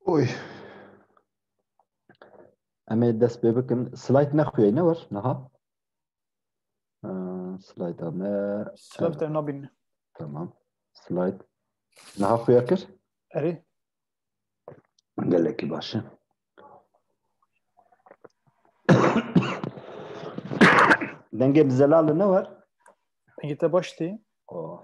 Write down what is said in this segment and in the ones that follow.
Oy. Em ê dest pê bikin. Slide nexuye ne wir niha. Slide me. Slide te nabîn. Tamam. Slide. Niha xuya kir? Erê. Gelekî baş e. Dengê bi zelal ne wir? Dengê te baş tê. Oh.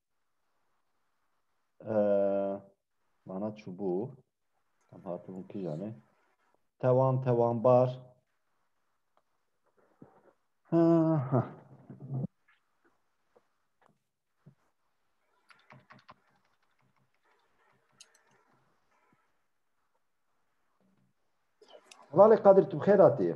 Mana çûbû em hatibûn kîjanê tewan tewanbar Valê Kadir tu bi xêr hatiyê.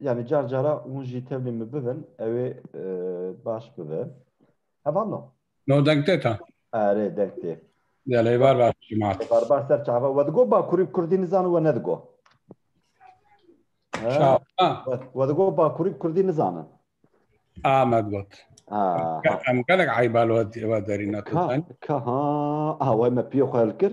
Yani car cara hûn jî tevlî min bibin ew ê baş bibe. Heval no. No deng tê ta. Erê deng tê. Ya lê var var cemaat. Var var ser çava we digo bakurî kurdî nizan we nedigo. We digo bakurî kurdî nizanin. Ahmed got. Em gelek eybalot ve derîna tu. Ka ha away me piyê xwe hilkir.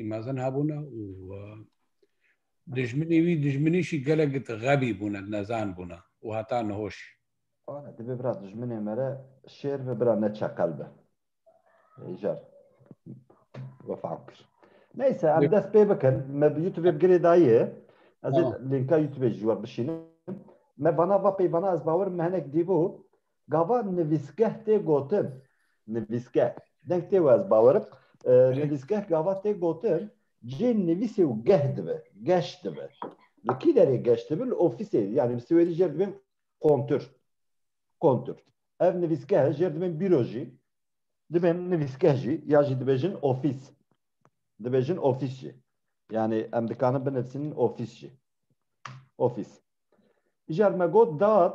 Îmazin hebûne û dijminî wî dijminîşî gelek xebî bûne, nezan bûne û heta nihoş. Ane dibê bira dijminê me re şêr ve bira ne çeqel be. Êjar wefa kir. Neyse em dest pê bikin. Me bi YouTube bi girê dayê. Ez ê linka YouTube ji we bişînim. Me vana va peyvana ez bawer me hinek dîbû. Gava nivîsgeh tê gotin. Nivîsgeh. Deng tê wê ez bawerim. Nivîsgeh gava tê gotin cê nivîsê û geh dibe. Geş dibe. Li kî derê geş dibe? Li ofîsê. Yanî bi siwêdî jêr dibên kontur. Kontur. Ev nivîsgeh e. Jêr dibên bîro jî. Dibên nivîsgeh jî. Ya jî dibêjin ofîs. Dibêjin ofîs jî. Yanî em dikarin binivîsin ofîs jî. Ofîs. Îcar me got dad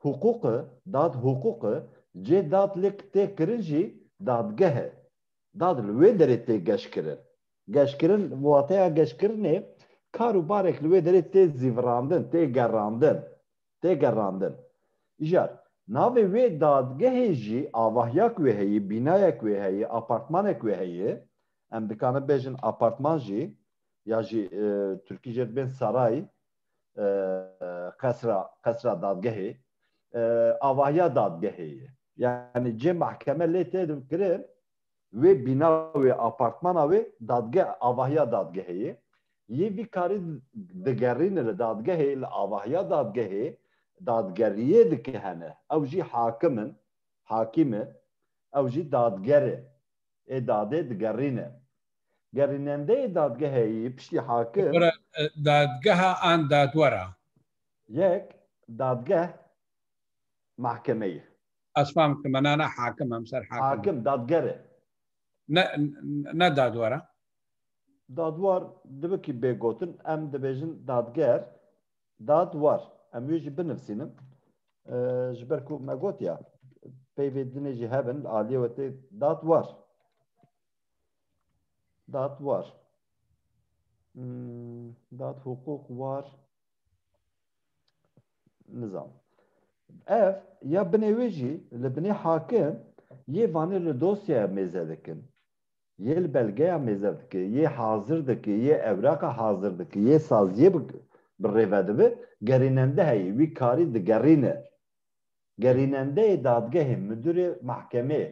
huqûq e, dad huqûq e, cê dad li k tê kirin jî dadgeh e. Dad li wê derê tê geşkirin. Geşkirin bi wateya geşkirinê kar û barek li wê derê tê zîvirandin, tê gerandin, tê gerandin. Îcar navê wê dadgehê jî avahyak wê heye, bînayek wê heye, apartmanek wê heye. Em dikarin bêjin apartman jî ya jî tirkî jê dibên saray. qesra qesra dadgehê avahiya dadgehê ye yani cê mahkeme lê tê kirin wê bîna wê apartmana wê dadgeh avahiya dadgehê ye yê vî karî digerîne li dadgehê li avahiya dadgehê dadgeriyê dike hene ew jî hakim in hakîm e ew jî dadger e ê dadê digerîne Gerînendeyê dadgehê yî piştî hakim. Dadgeha an dadwer a? Yek, dadgeh, mahkeme yî. Ez fam dike me na na hakim em ser hakim. Hakim, dadger e. Ne ne dadwer a? Dadwer dibe kî bê gotin em dibêjin dadger, dadwer. Em wê jî binivîsînim ji ber ku me gotiya peyvê dinê jî hebin li aliyê we tê dadwer. Dat war. Hmm, dat hukuk war. Nizam. Ev ya binê wê jî li binê hakim yê vanê li dosyaya mêze dikin. Yê li belgeya mêze dike, yê hazir dike, yê evraqa hazir dike, yê saziyê bi rêve dibi, gerînende heyî wî karî digerîne. Gerînendeyê dadgehê, midurê mahkemeyê.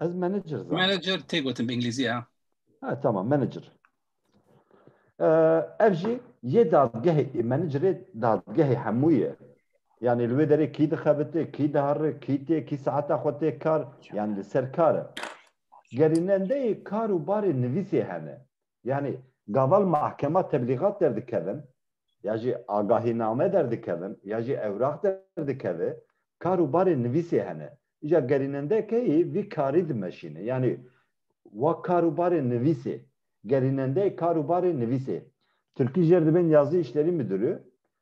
Ez manager zanim. Manager tê gotin bi İngilizce ya. Ha tamam manager. Ee, ev jî yê dadgehê ê managerê dadgehê hemû ye. Yani li wê derê kî dixebite, kî dihere, kî tê, kî saeta xwe tê kar, yani li ser kar e. Gerînendeyê kar û barê nivîsê hene. Yanî gaval mahkema teblîgat derdikevin ya jî agahîname derdikevin ya jî ewrax derdikeve kar û barê nivîsê hene. Îja gerînendekeyî vî karî dimeşîne. Yanî wa kar û barê nivîsê, gerînendeyê kar û barê nivîsê. Tirkî jêr dibên Yazî Îşlerî Midûrî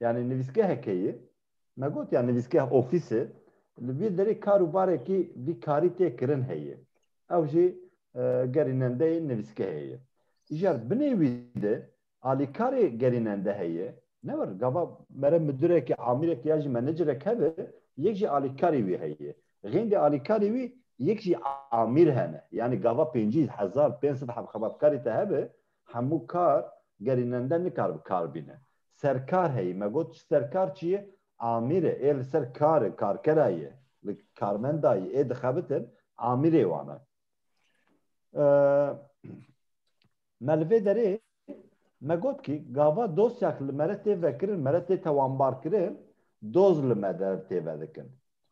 yanî nivîsgeheke ye, me got ya nivîsgeh ofîs e, li vî derê kar û barekî vî karî tê kirin heye. Ew jî gerînendeyê nivîsgehê ye. Îcar binê wî de alîkarê gerînende heye, ne wir gava mere midireke, amîreke ya jî menecerek hebe, yek jî alîkarê wî heye. Xêndê alîkarê wî yek jî amîr hene. Yanî gava pêncî hezar pênc sed xebatkarî te hebe, Hemû kar gerînende nikar bi kar bîne. Serkar heyî, me got ji serkar çi ye? Amîr e, ê li ser karê, karkera ye, li karmenda ye, ê dixebitin, amîrê wan e. Me li vê derê me got kî gava dosyak li me re tê vekirin, me re tê tewanbarkirin, doz li me der tê vedikin.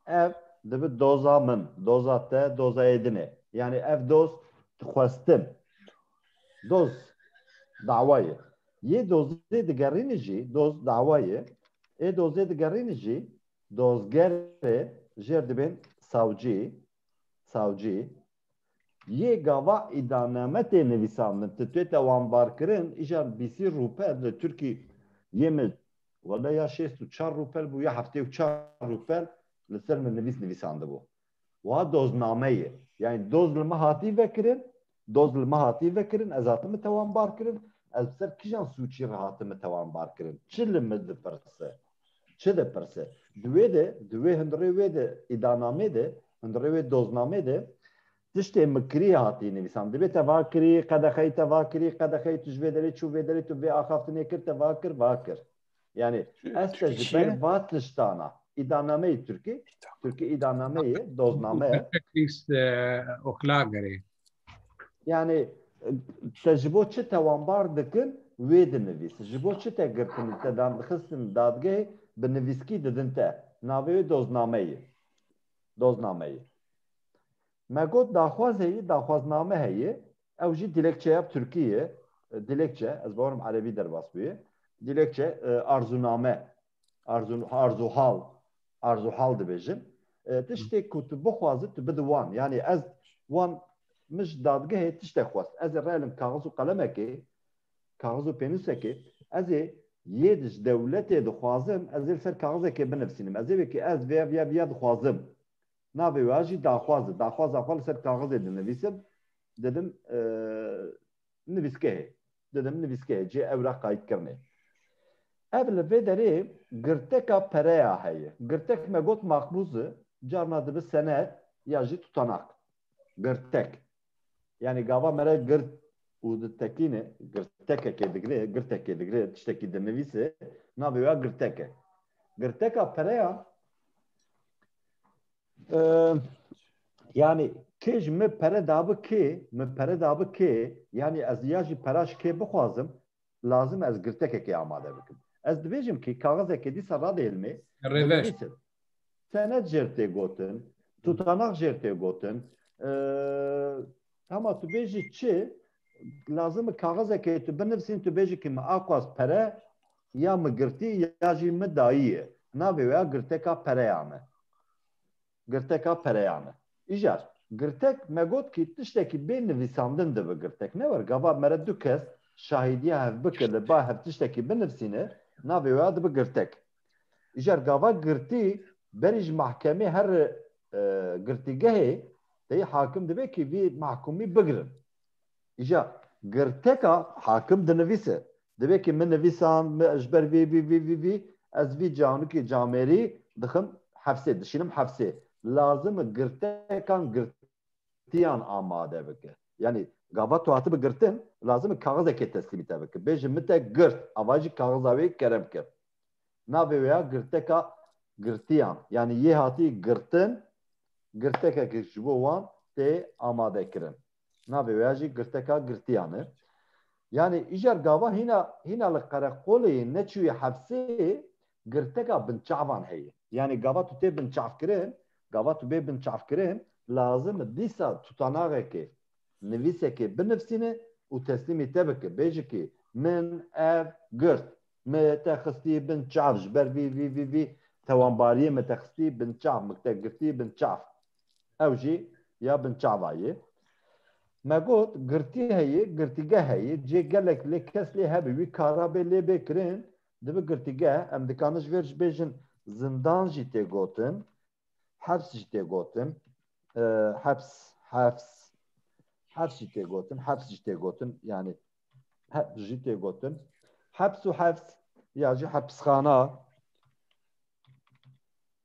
ev dibi doza min, doza te, doza êdinê. Yani ev doz dixwestin. Doz dawayê. Yê dozê digerînî jî, doz dawayê, ê dozê digerînî jî dozgerê jêr dibên sawcî, savcî, Yê gava îdaname tê nivîsandin, ti tête wanbarkirin, îjan bîsî rûpel li Tirkî yê min wele ya şêst û çar rûpel bû ya heftê û çar rûpel li ser min nivîs nivîsandibû. Wiha dozname ye. Yanî doz li min hatî vekirin, doz li min hatî vekirin, ez hatime te wanbarkirin, ez bi ser kijan sûcî re hatime te wanbarkirin, çi li min dipirse? Çi dipirse? Di wê de, di wê hundirê wê de îdanamê de, hundirê wê doznamê de tiştê mikirî hatî nivîsan. Dibê te va kirî, qedexeyî te va kirî, qedexeyî tu ji vê derê çû vê derê tu vê axaftinê kir te va kir va kir. Yanî ez te ji ber va tiştana îdanameyî Tirkî, Tirkî îdanameyê dozname. Teknîs oklagerê. Yani te ji bo çi tewanbar dikin wê dinivîs ji bo çi te girtin te dan dixistin dadgehê bi nivîskî didin te navê wê doznameyê doznameyê me got daxwaz heye daxwazname heye ew jî dilekçe ya Tirkî ye dilekçe ez bawerim erebî derbas bûye dilekçe arzûname Arzun arzuhal arzuhal dibêjin tiştê ku tu bixwazi tu bidi wan yani ez wan mij dadgehê tişte xwest ez ê relim kaxiz û qelemekê kaxiz û pênûsekê ez ê yê di ji dewletê dixwazim ez ê li ser kaxizekê binivîsînim ez ê wekî ez vê vê vê dixwazim navê wê jî daxwaz e daxwaza xwe li ser kaxizê dinivîsim didim nivîskehê Didim nivîskeyê cê ewra qayîtkirinê. Ev li vê derê girteka pereya heye. Girtek me got makbûz e, carna dibe senet ya jî tutanak. Girtek. Yanî gava me re girt û ditekîne, girtekekê digre, girtekê digre, tiştekî dinivîse, navê wê ya girtek e. Girteka pereya. yani kê ji min pere dabi kê min pere dabi kê yani ez ya jî pera ji kê bixwazim lazim ez girtekekê amade bikim ez dibêjim kî kaxizekê dîsa radêlmê rêveş senet jêr tê gotin tutanak jêr tê gotin Hema tu bêjî çi lazim e kaxizekê tu binivîsîn tu bêjî kî min axwaz pere ya min girtî ya jî min dayî navê wê ya girteka pereyan e. Girteka pereyan e. Îcar girtek me got kî tiştekî bê nivîsandin dibe girtek ne wer gava mere du kes şahîdiya hev bike li ba hev tiştekî binivîsîne navê wê ya dibe girtek. Îcar gava girtî berî ji mahkemê her girtîgehê teyî hakim dibê kî vî mahkumî bigirin. Îja girteka hakim dinivîse dibê kî min nivîsand min ji ber vî vî vî vî vî ez vî canikê camêrî dixim hefsê dişînim hefsê lazim e girtekan girtî girtiyan amade bike. Yanî gava tu hatibe girtin lazim e kaxizekê teslîmî te bike. Bêje min te girt ava jî kaxiza wê kere bike. Navê wê ya girteka girtiyan yanî yê hatî girtin girtekek ji bo wan tê amade kirin. Navê wê ya jî girteka girtiyan e. Yanî îcar gava hîna hîna li qereqolê neçûye hepsê girteka binçavan heye. Yanî gava tu tê binçavkirin, gava tu bê binçavkirin lazim e dîsa tutanaxekê, nivîsekê binivsîne û teslîmî te bike, bêje kî min ev girt, me te xistî bin çav ji ber vî vî vî vî tewanbariyê me te xistî bin çav, min te girtî bin çav. Ew jî ya binçava ye. Me got girtî heye, girtîgeh heye, cê gelek lê kes lê hebe wî kara bê lê bê kirin, Di bi girtîgeh em dikarin ji vêr jî bêjin zindan jî tê gotin, heps jî tê gotin, heps, hefs, heps jî tê gotin, heps jî tê gotin yanî heps jî tê gotin. Heps û hefs ya jî hepsxana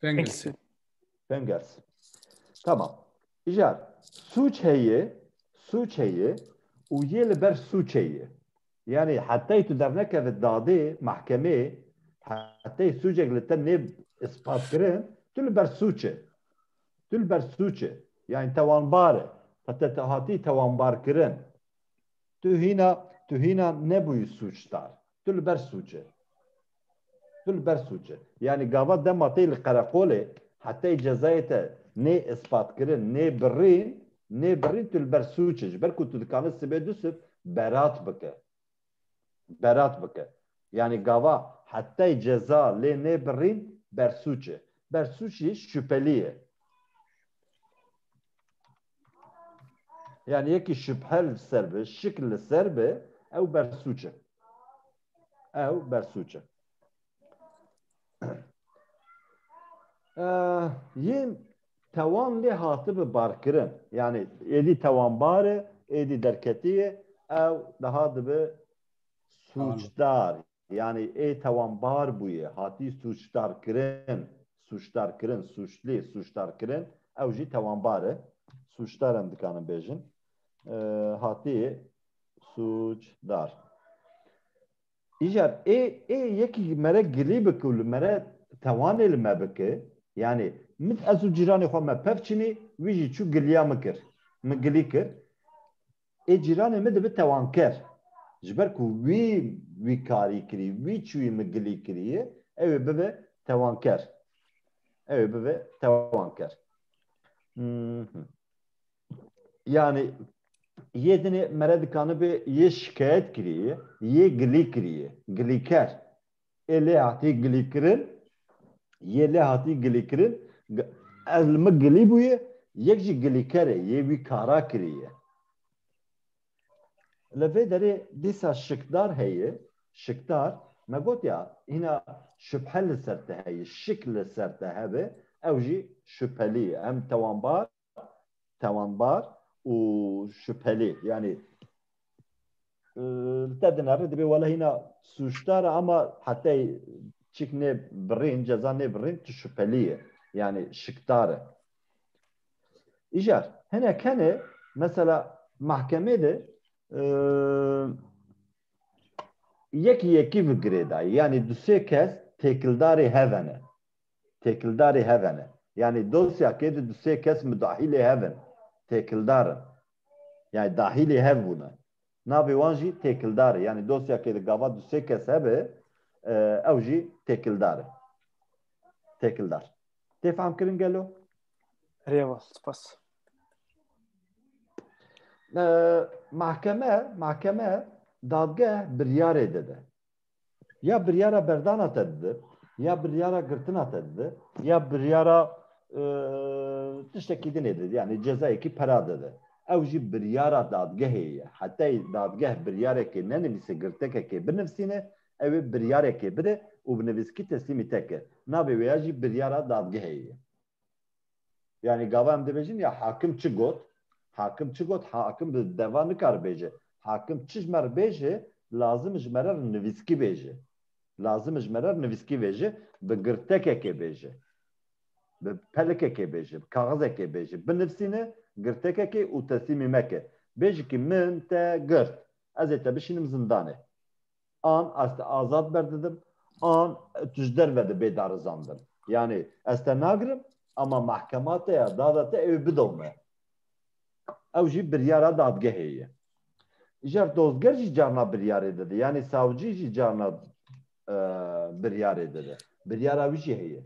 Fingers. Fingers. Tamam. Îcar. Sûç heye, sûç heye û yê li ber sûçê ye. Yanî hetey tu dernekeve dadê, mehkemeyê, hetey sûcek li te nê ispatkirin, tu li ber sûç î. Tu li ber sûç î. Yanî tewanbar î. Heta tu hatî tewanbarkirin. Tu hîna, tu hîna nebûyî sûcdar. Tu li ber sûç î. Tu li ber sûc î. Yanî gava dema tê li qereqolê hetey cezayê te nê îspatkirin, nê birîn, nê birîn tu li ber sûc î. Ji ber ku tu dikanî sibê du sib berat bike. Berat bike. Yanî gava hetey ceza lê nê birîn ber sûc î. Ber sûc î şüphelî ye. Yanî yekî şüphe li ser bi, şik li ser bi ew ber sûc î. ew bersûç e. Yên tewan lê hatibi barkirin yanî êdî tewanbar e êdî derketiye ew daha dibe sûçdar yanî ê tewanbar bûye hatî sûçdarkirin sûçdarkirin sûçlê sûçdarkirin ew jî tewanbar e sûçdar em dikanin bêjin hatiyê Suc dar. Îcar ê ê yekî li mere gilî bike û li mere tewanê li me bike, yanî min ez û cîranê xwe me pevçînî, wî jî çû giliya min kir, min gilî kir. Ê cîranê min dibe tewanker. Ji ber ku wî wî karî kirî, wî çûyî min gilî kirîye, ew ê bibe tewanker. Ew ê bibe tewanker. yani yê dinê mere dikanibê yê şikayet kiriye yê gilî kiriye gilîker ê lê hatî gilîkirin yê lê hatî gilîkirin ez li min gilî bûye yek jî gilîker e yê wî kara kiriye li vê derê dîsa şikdar heye şikdar me gotiya hîna şubhe li ser te heye şik li ser te hebe ew jî şubhelî ye em tewanbar tewanbar û şüphelê yanî te dinare dibê wala hîna sûcdara ama hetey çik nê birîn ceza nê birîn tu şüphelî ye yanî şikdar e îcar hene kenê mesela mahkemê de yekî yekî vigirê dayî yanî du sê kes têkildarê hevene têkildarê heve ne. Yanî dosya kê de du sê kes mudahîlê hev in, têkildar in. Yanî dahîlê hev bûne. Navê wan jî têkildar e. Yanî dosya kê de gava du sê kes hebe ew jî têkildar e. Têkildar. Tê fehm kirin gelo? Rêva, spas. Mahkeme, mahkeme dadgeh biryarê dide. ya biryara berdana te dide ya biryara girtina te dide ya biryara tiştekî din ê dide yani cezayekî pera dide ew jî biryara dadgehê ye hetey dadgeh biryarekê nenivîse girtekekê binivîsîne ew ê biryarekê bide û bi nivîskî teslîmî te ke navê wê ya jî biryara dadgehê ye. Yani gava em dibêjin ya hakim çi got, hakim çi got, hakim di deva nikar bêje. Hakim çi ji me re bêje, lazim ji me re nivîskî bêje. Lazim ji me re nivîskî bêje, bi girtekekê bêje. Bi pelikekê bêje, bi kaxizekê bêje. Binivîsîne girtekekê û teslîmî meke. Bêjikî min te girt. Ez ê te bişînim zindanê. an ez te azad berdidim an tu ji derve dibê darizandin. Yanê ez te nagirim ama mehkema te ya dada te ew bido me. Ew jî biryara dadgehê ye. Îcar dozger jî carna biryarê dide. Yanê savcî jî carna biryarê dide. Biryara wî jî heye.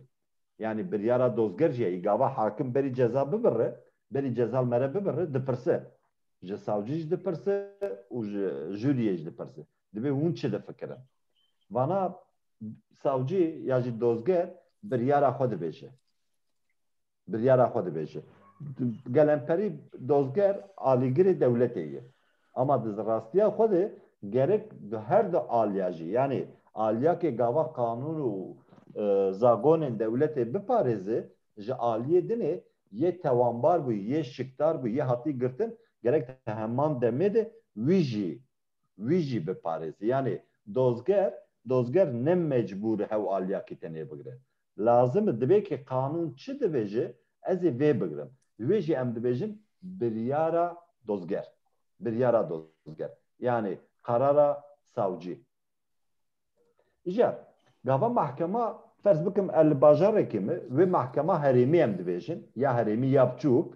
yanî biryara dozger jî ye, î gava hakim berî ceza bibirre, berî cezal mere bibirre dipirse, ji savcî jî dipirse û ji juriyê jî dipirse, dibê hûn çi difikirin. Vana savcî ya jî dozger biryara xwe dibêje. Biryara xwe dibêje. Gelemperî dozger alîgirê dewletê ye. Ama di zirastiya xwe de gerek di her du aliya jî yanî aliyakê gava qanûn û zagonên dewletê biparêze ji aliyê dinê yê tewanbar bû yê şikdar bû yê hatî girtin gerek di heman demê de wî jî wî jî biparêze yanî dozger dozger ne mecbûr hew aliyakî tenê bigire Lazim e divê ki qanûn çi dibêje ez ê vê bigirim. Li wê jî em dibêjin biryara dozger. Biryara dozger yanî qerara sawcî. Îja gava mehkema ferz bikim li bajarekê me wê mehkema herêmî em dibêjin ya herêmî ya biçûk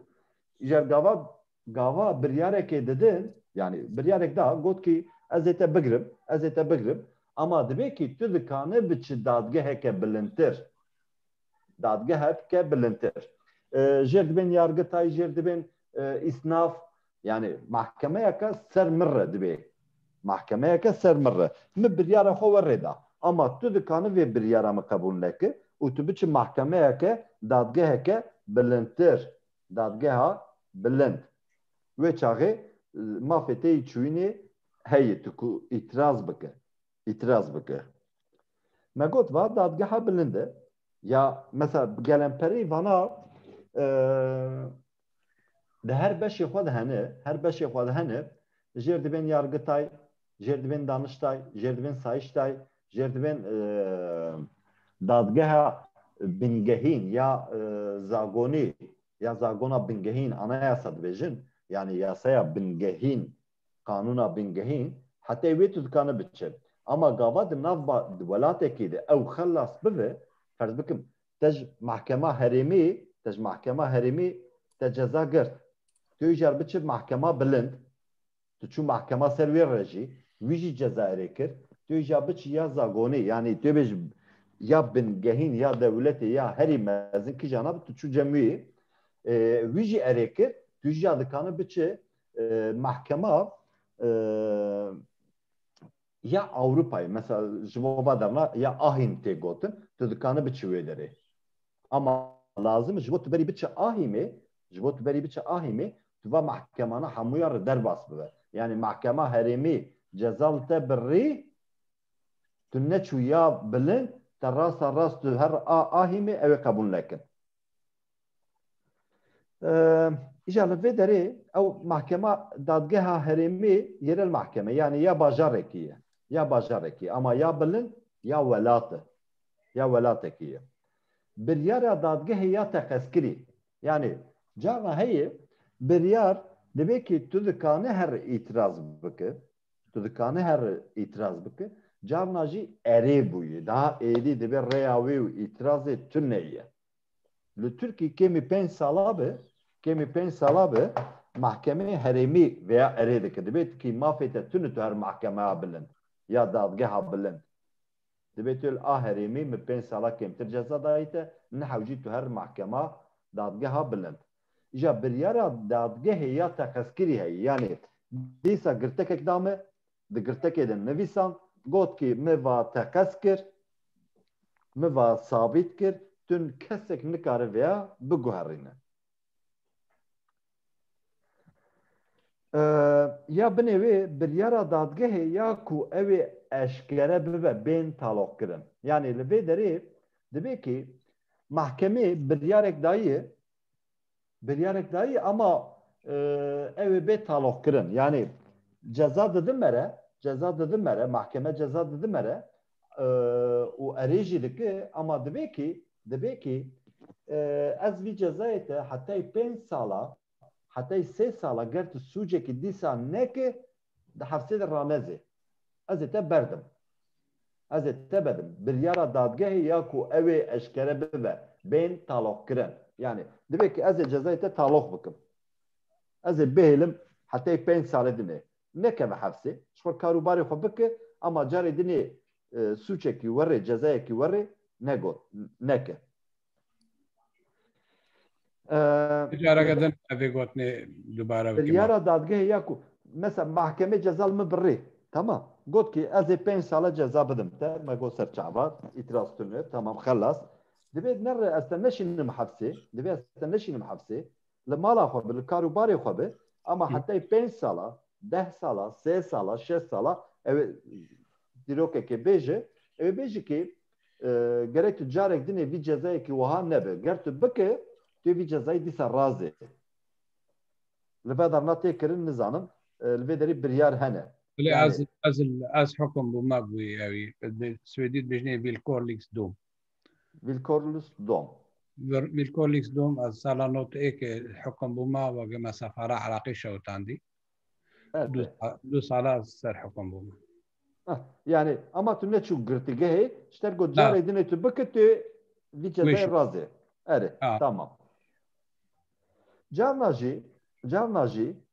îja gava gava biryarekê didin yanî biryarek da got kî ez ê te bigirim ez ê te bigirim ama divê kî tu dikane biçi dadgeheke bilindtir dadgehe bike bilindtir jêr dibên yargitay jêr dibên îsnaf yanî mahkemeyeke ser min re divê mahkemeyeke ser min re min biryara xwe we rêda ama tu dikane vê biryara min qebûl neke û tu biçi mahkemeyeke dadgeheke bilindtir Dadgeha Bilind. Wê çaxê mafê têyî çûyînê heye tu ku îtîraz bike, îtîraz bike. Me got va Dadgeha Bilind e. Ya mesela gelemperî vana di her beşê xwe de hene, her beşê xwe de hene jêr dibên yargitay, jêrdibên daniştay, jêrdibên sayiştay, jêrdibên dadgeha bingehîn ya zagonî ya zagona bingehîn anayasa dibêjin yani yasaya bingehîn qanûna bingehîn hetê wê tu dikane biçe. Ama gava di nav di welatekî de ew xelas bibe ferz bikim te ji mehkema herêmî te ji mehkema herêmî te ceza girt tu îcar biçe mehkema bilind Tu çû mehkema ser wê re jî, wî jî Cezairê kir. Tu yê jî biçî ya zagonê yanî tu yê bêjî ya bingehîn ya dewletê ya herî mezin kija na bi tu çû cem wî. Wî jî erê kir. Tu jî ya dikane biçi mehkema ya Ewropayê. Mesela ji bo ba derna ya Ahîm tê gotin. Tu dikane biçi wê derê. Ama lazim ji bo tu berî biçi Ahîmê, ji bo tu berî biçi Ahîmê tu va mehkemana hemûyan re derbas bibe. Yanî mehkema herêmî ceza li te birrî, tu neçû ya bilind, te rasta rast tu her a ahîmê ew ê qebûl nekin. Îja li vê derê ew mehkema dadgeha herêmî yerel mehkeme yanî ya bajarekî ye, ya bajarekî ama ya bilind ya welat e, ya welatekî ye. Biryara dadgehê ya teqezkirî Yanî carna heye biryar divê kî tu dikane her îtîraz bike, tu dikane her îtîraz bike, carna jî erê bûye. Daha êdî divê rêya wê û îtîrazê tune ye. Li Tirkî kêmî pênc sala be, kêmî pênc sala be mehkemeyê herêmî vêya erê dike. Divê tu kî mafê te tune tu her mehkemeya bilind ya dadgeha bilind Dibê tu li a herêmî min pênc sala kêmtir ceza dayîte, min hewcî tu her mehkema, dadgeha bilind. Îja biryara dadgehê ya teqezkirî heye, yanî dîsa girtekek da min, di girtekê de nivîsand, got kî min va teqez kir, min va sabît kir, tu kesek nikare vêya biguherîne. Ya binê wê biryara dadgehê ya ku ew ê eşkere bibe bên taloqkirin. Yanî li vê derê divê kî mahkemê biryarek daye biryarek daye ama ew ê bê taloqkirin. Yanî ceza didin me re ceza didin me re mahkeme ceza didin me re û erê jî dike ama divê kî divê kî ez vî cezayê te hetayî pênc sala hetayî sê sala ger tu sûcekî dîsa neke di hefsê de ranezê ez ê te berdim ez ê te bedim biryara dadgehê ya ku ew ê eşkere bibe bên taloqkirin yanî divê kî ez ê cezayê te taloq bikim ez ê bihêlim hetayî pênc sale din ê nekeve hepsê, ji xwe kar û barê xwe bike, ema carê dinê sûçekî werê, cezayekî werê negot, neke. Careke din evê gotinê dubare bike. Biryara dadgehê ya ku mesela mahkemê ceza li min bi rê, tamam, got ki ez ê pênc sala ceza bidim te, me got ser çava, îtîraz tune, tamam, xelas. Divê nere ez te neşînim hepsê, divê ez te neşînim hepsê, li mala xwe bi li kar û barê xwe bi ama hetayê pênc sala deh sala sê sala şeş sala ew dîrokekê bêje ew bêje kê gerek tu carek dinê vî cezayekî wiha nebe ger tu bike tu vî cezayî dîsa razê li vedar na tê kirin nizanim li vê derî biryar hene Lê ez ez ez hukum bû me bûyî ewî Swêdî dibêjinê vîlkorlîks dom Wilkornus Dom. Wilkornus Dom ez sala nod ê ke hukum bûma we gema sefara Iraqî şewitandî. Du sala ez ser hukum bûma. Yanî ama tu neçû girtîgehê ji ter ku carê din ê tu bike tu vî cezayê razê. Erê tamam. Carna jî carna jî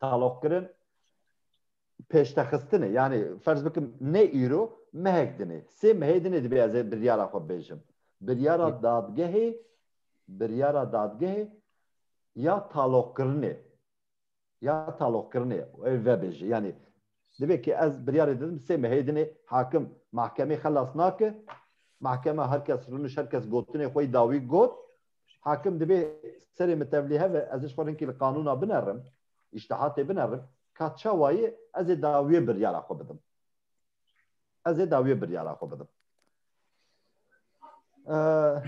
taloq kirin pêştexistinê yanî ferz bikim ne îro mehek dinê sê mehê dinê dibê ez ê biryara xwe bêjim biryara dadgehê biryara dadgehê ya taloqkirinê ya taloqkirinê ev vebêje yanî Divê ki ez biryarê didim sê mehê dinê hakim mahkemê xelas nake. Mahkeme her kes riniş her kes gotinê xwe dawî got. Hakim divê serê min tevlî heve ez ji xwe rinkî li qanûna binerim, îştihatê binerim ka çawayê ez ê dawiyê biryara xwe bidim. Ez ê dawiyê biryara xwe bidim.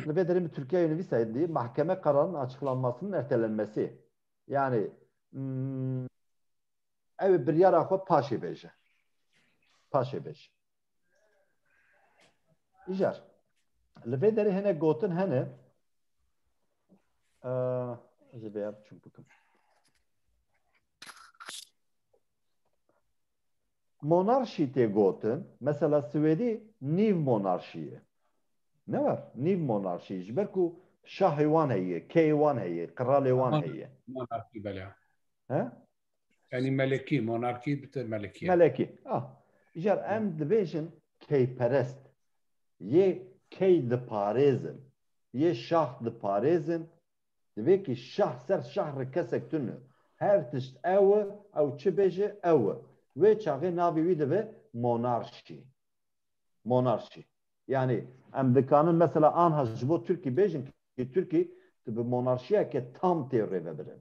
Li vê derê min Tirkiyeyê nivîsayê dî mahkeme qerarên açıqlanmasinin ertelenmesi. Yani Ew ê biryara xwe paşê bêje. Paşê bêje. Îcar. Li vê derê hene gotin hene ez ê vêya biçûk bikim. Monarşî tê gotin, mesela Swêdî nîv monarşî ye. Ne var, nîv monarşî ji ber ku şahê wan heye, keyê wan heye, qiralê wan heye. Monarşî bela. He? Yanî melekî, monarkî bi te melekî ye. Melekî. Ah. Îcar em dibêjin keyperest. Yê key diparêzin. Yê şax diparêzin. Divê kî şax ser şax re kesek tune. Her tişt ew e, ew çi bêje ew e. Wê çaxê navê wî dibe monarşî. Monarşî. Yanî em dikanin mesela anha ji bo Tirkî bêjin kî Tirkî tu bi monarşîyeke tam tê rêvebirin.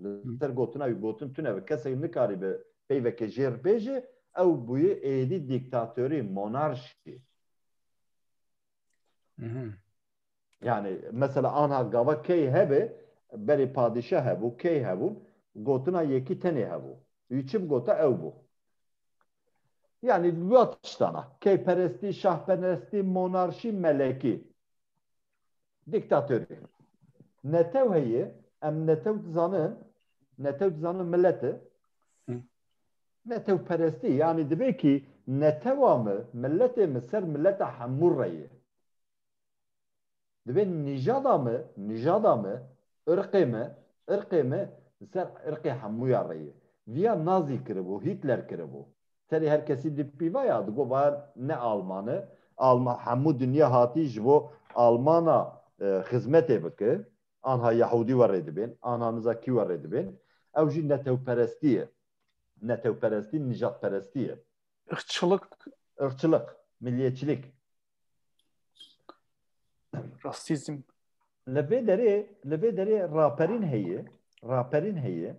Li ser gotina wî gotin tune bi kesek nikaribe peyveke jêr bêje ew bûye êdî dîktatorî, monarşî. Yani mesela anha gava key hebe berê padîşa hebû, key hebûn, gotina yekî tenê hebû. Wî çi bigota ew bû. Yani dua tiştana. Keyperestî, şahperestî, monarşî, melekî. Dîktatorî. Netew heye, em netew dizanin, netew dizanin milet e. Netewperestî yanî divê kî netewa me, miletê me ser mileta hemû re ye. Divê nîjada me, nîjada me, irqê me, irqê me li ser irqê hemûyan re ye. Viya Nazî kiribû, Hîtler kiribû. Serê her kesî di pîvaya di got var ne Alman e. Alman hemû dinya hatî ji bo Almana xizmetê bike. Anha Yahûdî we rê dibên, anha niza kî we rê dibên. Ew jî netewperestî ye. Netewperestî nijadperestî ye. Irqçilik. Irqçilik, milliyetçilik. Rastîzm. Li vê derê li vê derê raperîn heye, raperîn heye.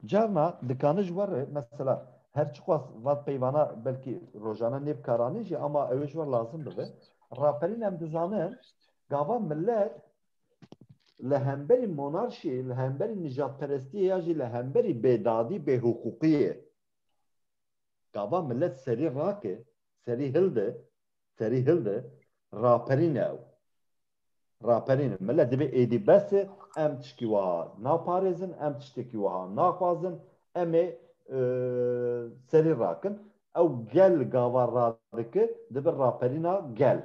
Carna dikanij war e mesela her çiqas vat peyvana belkî rojane nêbikaranî jî ama ew ê ji we lazim bibe. Raperîn em dizanin gava millet li hemberî monarşî, li hemberî nijadperestiyê ya jî li hemberî bêdadî, bêhiqûqiyê gava millet serî rake, serî hilde serî hildi raperîne ew. Raperîne mele divê êdî bes e em tiştî wiha naparêzin, em tiştekî wiha naxwazin, em ê serî rakin. Ew gel gava radike dibe raperîna gel.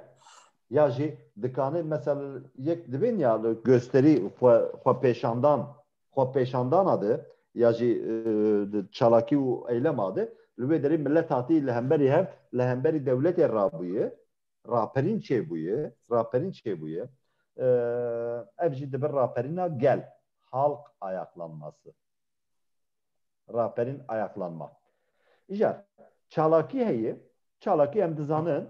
Ya jî dikanê mesel yek divên ya li gösterî xwe xwe pêşandan xwepêşandana de ya jî çalakî û eylema de li wê derê milet hatî li hemberî hev li hemberî dewletê rabûye raperîn çêbûye raperîn çêbûye ev jî dibir raperîna gel halk ayaklanması raperîn ayaklanma îcar çalakî heye çalakî em dizanin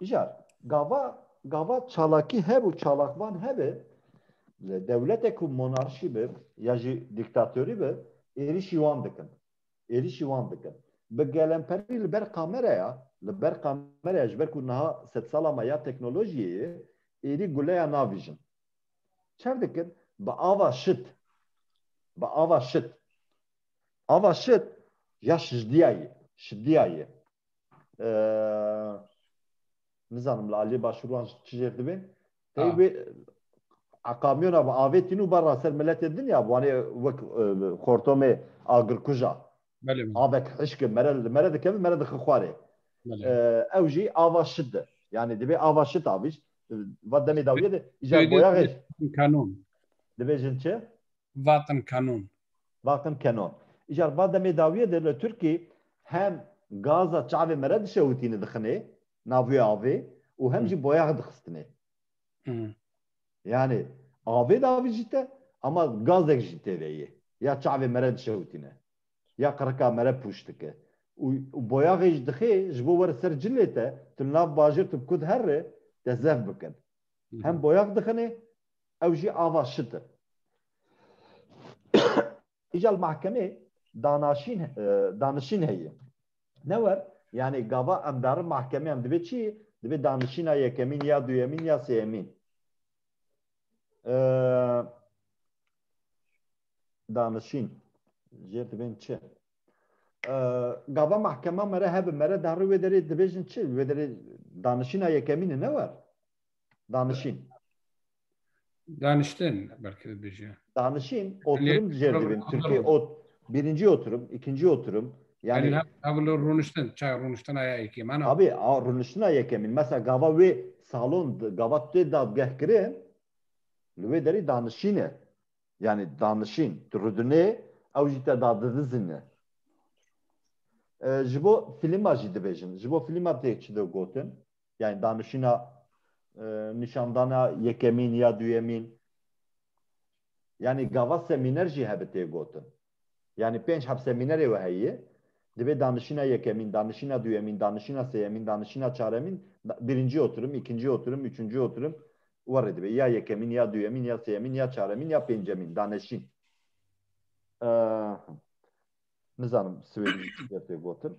Jar gava gava çalakî heb û çalakvan hebe li dewlete ku monarşî be ya jî dîktatorî be êrîşî wan dikin. Êrîşî wan dikin. Bi gelemperî li ber kameraya li ber kameraya ji ber ku niha sed sala me ya teknolojiyê ye êrî guleya navîjin. Çer dikin bi ava şit bi ava şit ava şit ya şijdiya ye şiddiya ye. nizanim li aliyê başûr wan çi jêr dibe tey wê eqamiyona bi avê tîn û berra ser miletê din ya wanê wek xortomê agirkuja avek hişke mere li mere dikeve mere dixi xwarê ew jî ava şit de yanî divê ava şit avîş va demê dawiye de îcar boyaxê kanûn divê jin çi Vatin Kanun. Vatin Kanun. Îcar va demê dawiyê de li Tirkî hem gaza çavê me re dişewitîne dixine navê avê û hem jî boyax dixistine. Yanî avê davî jî te ama gazek jî tê de yê. Ya çavê me re dişewitîne. Ya qirika me re pûç dike. Û boyaxê jî dixê ji bo were ser cilê te, tu li nav bajêr tu bi ku dihere te zef bikin. Hem boyax dixine Ew jî ava şit in. Îja li mahkemê danaşîn danişîn heye. Newer yanê gava em darin mahkemeyan divê çi? Divê danişîna yekemîn ya duyemîn ya sêyemîn. Danişîn jê divên çi? Gava mahkema mere hebin mere darî wê derê dibêjin çi? Wê derê danişîna yekemîn e newer. Danişîn. Daniştin belki dibêje. Danişîn oturum dijêr dibin. Tirkî ot birinci oturum, ikinci oturum. Yani, yani havlu runiştin, ça runiştina ya yekê mana. Abi, a runiştina yekemin. Mesela gava wê salon, gava tê dadgeh kirin, li wê derî danişîn e. Yani danişîn, tu rudinê, ew jî te dadidizin e. Ji bo filma jî dibêjin. Ji bo filma tê çi de gotin. yani danişîna nîşandana yekemîn ya duyemîn yani gava semîner jî hebe tê gotin yani pênc heb semînerê we heye divê danişîna yekemîn danişîna duyemîn danişîna seyemîn danişîna çaremîn birincî oturim îkincî oturim üçüncî oturim werê divê ya yekemîn ya duyemîn ya seyemîn ya çaremîn ya pêncemîn danişîn nizanim swêdî tê gotin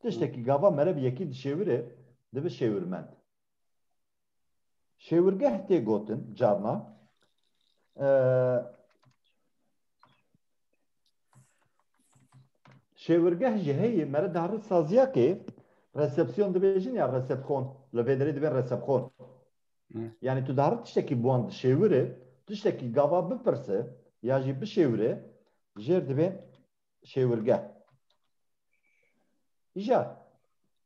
Tiştekî gava mere bi yekî dişêwire dibe şêwirmend. Şêwirgeh tê gotin carna şêwirgeh ji heyê mere dihri saziya kê resepsiyon dibêjin ya resepxon li vê derê dibên resepxon. Yani tu dihri tiştekî bi wan dişêwire, tiştekî gava bipirse ya jî bişêwire jêr dibên şêwirgeh. Îja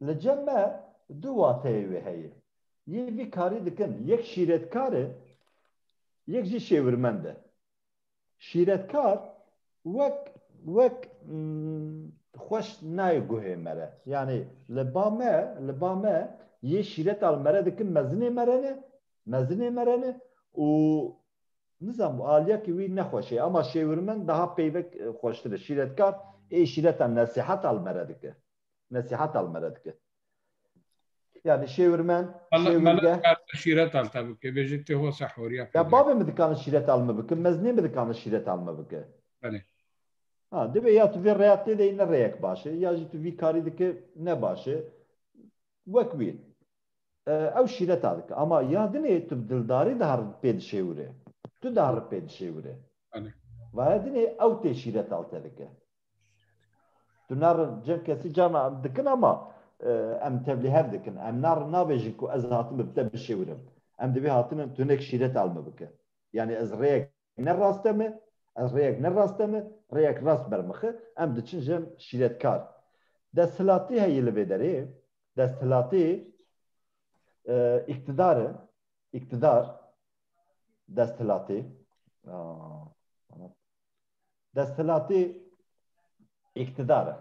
li cem me du wateyê wê heye. Yê vî karî dikin yek şîretkar e yek jî şêwirmend e. Şîretkar wek wek xweş nayê guhê me re. Yanî li ba me li ba me yê şîreta li me re dikin mezinê me re ne mezinê me re ne û Nizam aliyekî wî nexweş e ama şêwirmend daha peyvek xweştir e. Şîretkar ê şîreta nesîheta li me re dike. Nesîheta li me re dike. Yani şêwirmend, şêwirge... Mele dikane şîreta li te bike. Bêje tê hosa horiya peyvek. Ya bavê min dikane şîreta li me bike. Mezinê min dikane şîreta li me bike. Belê. Ha, divê ya tu vê reya têde yî ne reyek baş e ya jî tu vî karî dike ne baş e. Wek wî. Ew şîreta dike ama ya dinê tu bi dildarî diha pê dişêwirê. Tu diha ri pê dişêwirê. Vaya dinê ew tê şîreta te dike. Tu narin cem kesî cana dikin ama em tevlî hev dikin. Em narin nabêjin ku ez hatim bi te bişêwirim. Em divê hatinin tu hinek şîreta li min bike. Yanî ez rêyek ne rast e me, ez rêyek ne rast e me, rêyek rast ber mixi, em diçin jin şîretkar. Desthilatî heye li vê derê, desthilatî îktidar e, îktidar desthilatî desthilatî îktidar e.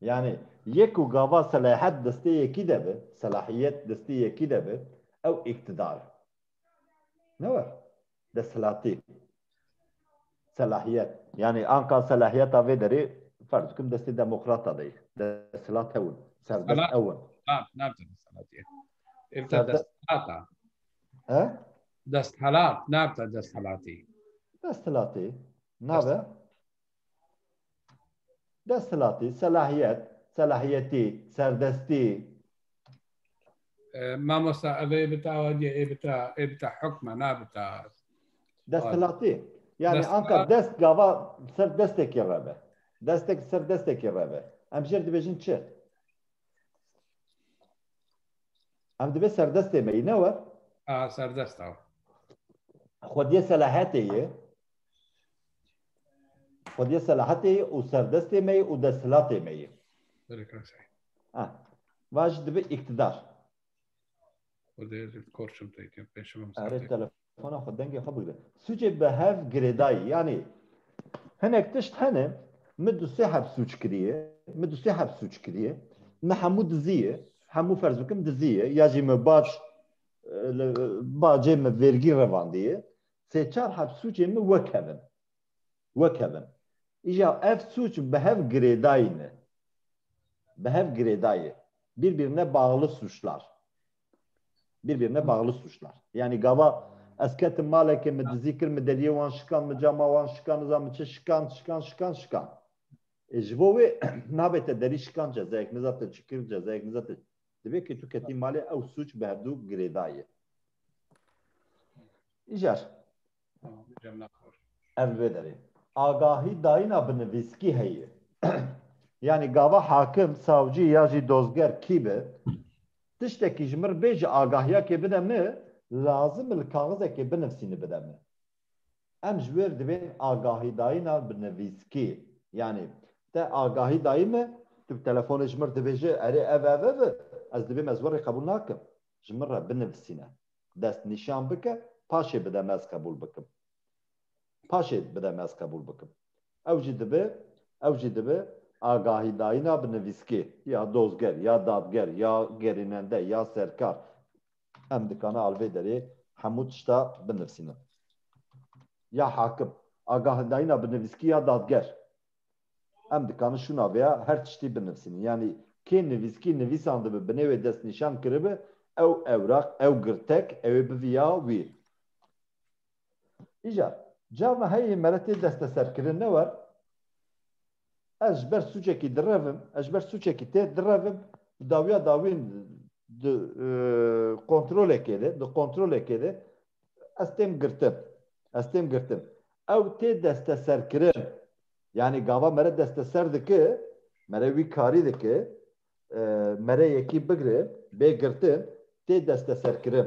Yani yek û gava selahet destê yekî de bi, selahiyet destê yekî de bi, ew îktidar e. Newe. Desthilatî. Selahiyet. Yanî anka selahiyeta vê derê ferz bikim destê demokrata de ye. Desthilat ew in. Serdest ew in. Desthilat nabite desthilatî. Desthilatî nabe Desthilatî, selahiyet, selahiyetî, serdestî. Mamosta ev ê bita awadiye ê bita ê bita hukme nabita. Desthilatî. Yani anka dest gava ser destekî re be. Destek ser destekî re be. Em jêr dibêjin çi? Em divê serdestê me yî ne we? A serdest ew. Xwediyê selahiyetê yê. Xwediyê selahetê yê û serdestê me yê û desthilatê me yê. Va jî dibe îktidar. Erê telefona xwe dengê xwe bigire. Sûcê bi hev girêdayî yanî hinek tişt hene min du sê heb sûc kiriye, min du sê heb sûc kiriye, min hemû dizî ye, hemû ferz bikim dizî ye ya jî min bac bacê min vêrgî revandiye, sê çar heb sûcê min wekevin. Wekevin. Îja ev sûc bi hev girêdayî ne. Bi hev girêdayî. Birbirine bağlı suçlar. Birbirine bağlı suçlar. Yani gava ez ketim malekê min dizî kir, min deriyê wan şikan, min cama wan şikan, niza min çi şikan, şikan, şikan, şikan. E ji bo wê nabête derî şikan cezayek, niza te çi kir cezayek, niza te Divê kê tu ketî malê ew sûc bi hevdû girêdayê. Îcar. Ev li vê derê. Agahî dayîna bi nivîskî heye. Yanî gava hakim, savcî ya jî dozger kî be, tiştekî ji min re bê ji agahiya kê bide min, lazim e li kaxizekê binivîsî bide min. Em ji wêr divên agahîdayîna bi nivîskî. Yanî te agahî dayî min, tu bi telefonê ji min dibêje erê ev ev ev e, ez divêm ez we rê qebûl nakim. Ji min re binivisîne. Dest nîşan bike, paşê bide me ez qebûl bikim. Paşê bide me ez qebûl bikim. Ew jî dibe, ew jî dibe agahîdayîna bi nivîskî. Ya dozger, ya dadger, ya gerînende, ya serkar. Em dikane alvê derê hemû tişta binivîsînin. Ya hakim, agahindayîna bi nivîskî ya dadger. Em dikane şûna vê ya her tiştî binivîsînin. Yanî kê nivîskî nivîsandibi binê wê destnîşan kiribi ew ewraq, ew girtek ew ê bivî ya wî. Îcar, Carna heyê mere tê desteserkirin ne war? Ez ji ber sûcekî direvim, ez ji ber sûcekî tê direvim, bi dawiya dawîn di kontrolekê de, di kontrolekê de ez têm girtin, ez têm girtin. Ew tê desteserkirin. Yanî gava mere desteser dike, mere wî karî dike, mere yekî bigire, bê girtin, tê desteserkirin.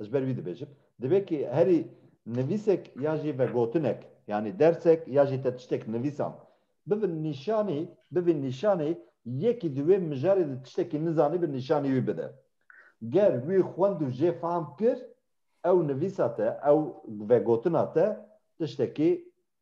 Ji ber wî dibêjim, divê ku herî nivîsek ya jî vegotinek, yanî dersek ya jî te tiştek nivîsan, bibin nîşanî, bibin nîşanî yekî di wê mijarê de tiştekî nizanî bi nîşanî wî bide. Ger wî xwend û jê fahm kir, ew nivîsa te, ew vegotina te tiştekî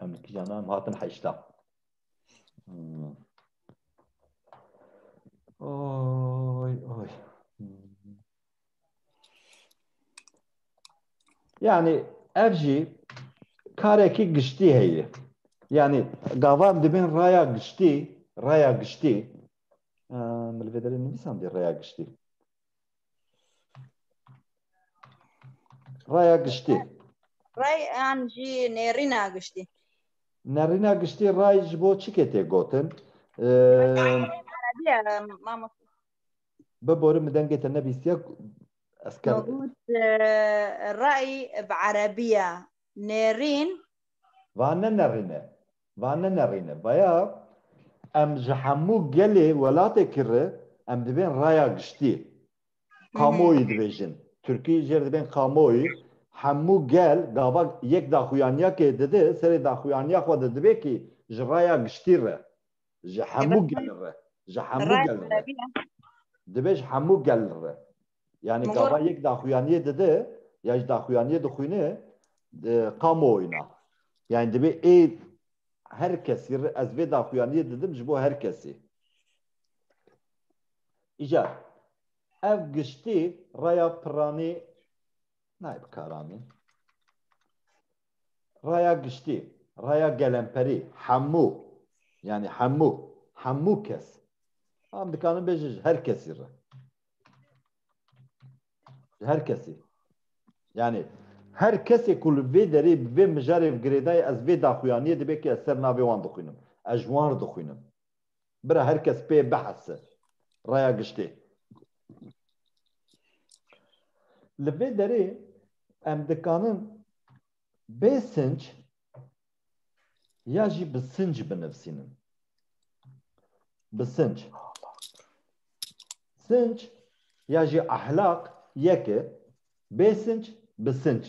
Em li kîjan em hatin heşta. Oy oy. Yani ev jî karekî giştî heye. Yani gavan dibin raya giştî, raya giştî. Milvederin nivîsan dê raya giştî. Raya giştî. Ray an jî nêrîna giştî. Nerîna giştî ray ji bo çi ketê gotin? Erebîya mamos. Bibore min dengê te nebîstiye ez ker. Got ray bi erebîya nêrîn. Va ne nerîne. Van ne nerîne baya em ji hemû gelê welatê kirri em dibên raya giştî. Kamuoyu dibêjin. Tirkî jêr dibên kamuoyu. Hemû gel gava yek daxuyaniya kê didi serê daxuyaniya xwe de dibê kî ji raya giştî re. Ji hemû gel re. Ji hemû gel re. Dibê ji hemû gel re. Yani gava yek daxuyaniyê dide ya ji daxuyaniyê dixwîne qamo oyna. Yani divê ê her kesî ez vê daxuyaniyê didim ji bo her kesî. Îca ev giştî raya piranî nayê bikaranîn. Raya giştî, raya gelemperî, hemû yani hemû, hemû kes. Em dikarin bêjin ji her kesî re. her kesê yani her kesê ku li vê derê bi vê mijarê bi girêdayê ez vê daxuyaniyê dibe ki ez ser navê wan dixwînim ez ji wan re dixwînim bira her kes pê bihese raya giştê li vê derê em dikanin bê sinc ya jî bi sinc binivîsînin. Bi sinc. Sinc ya jî ehlaq yek e. Bê sinc bi sinc.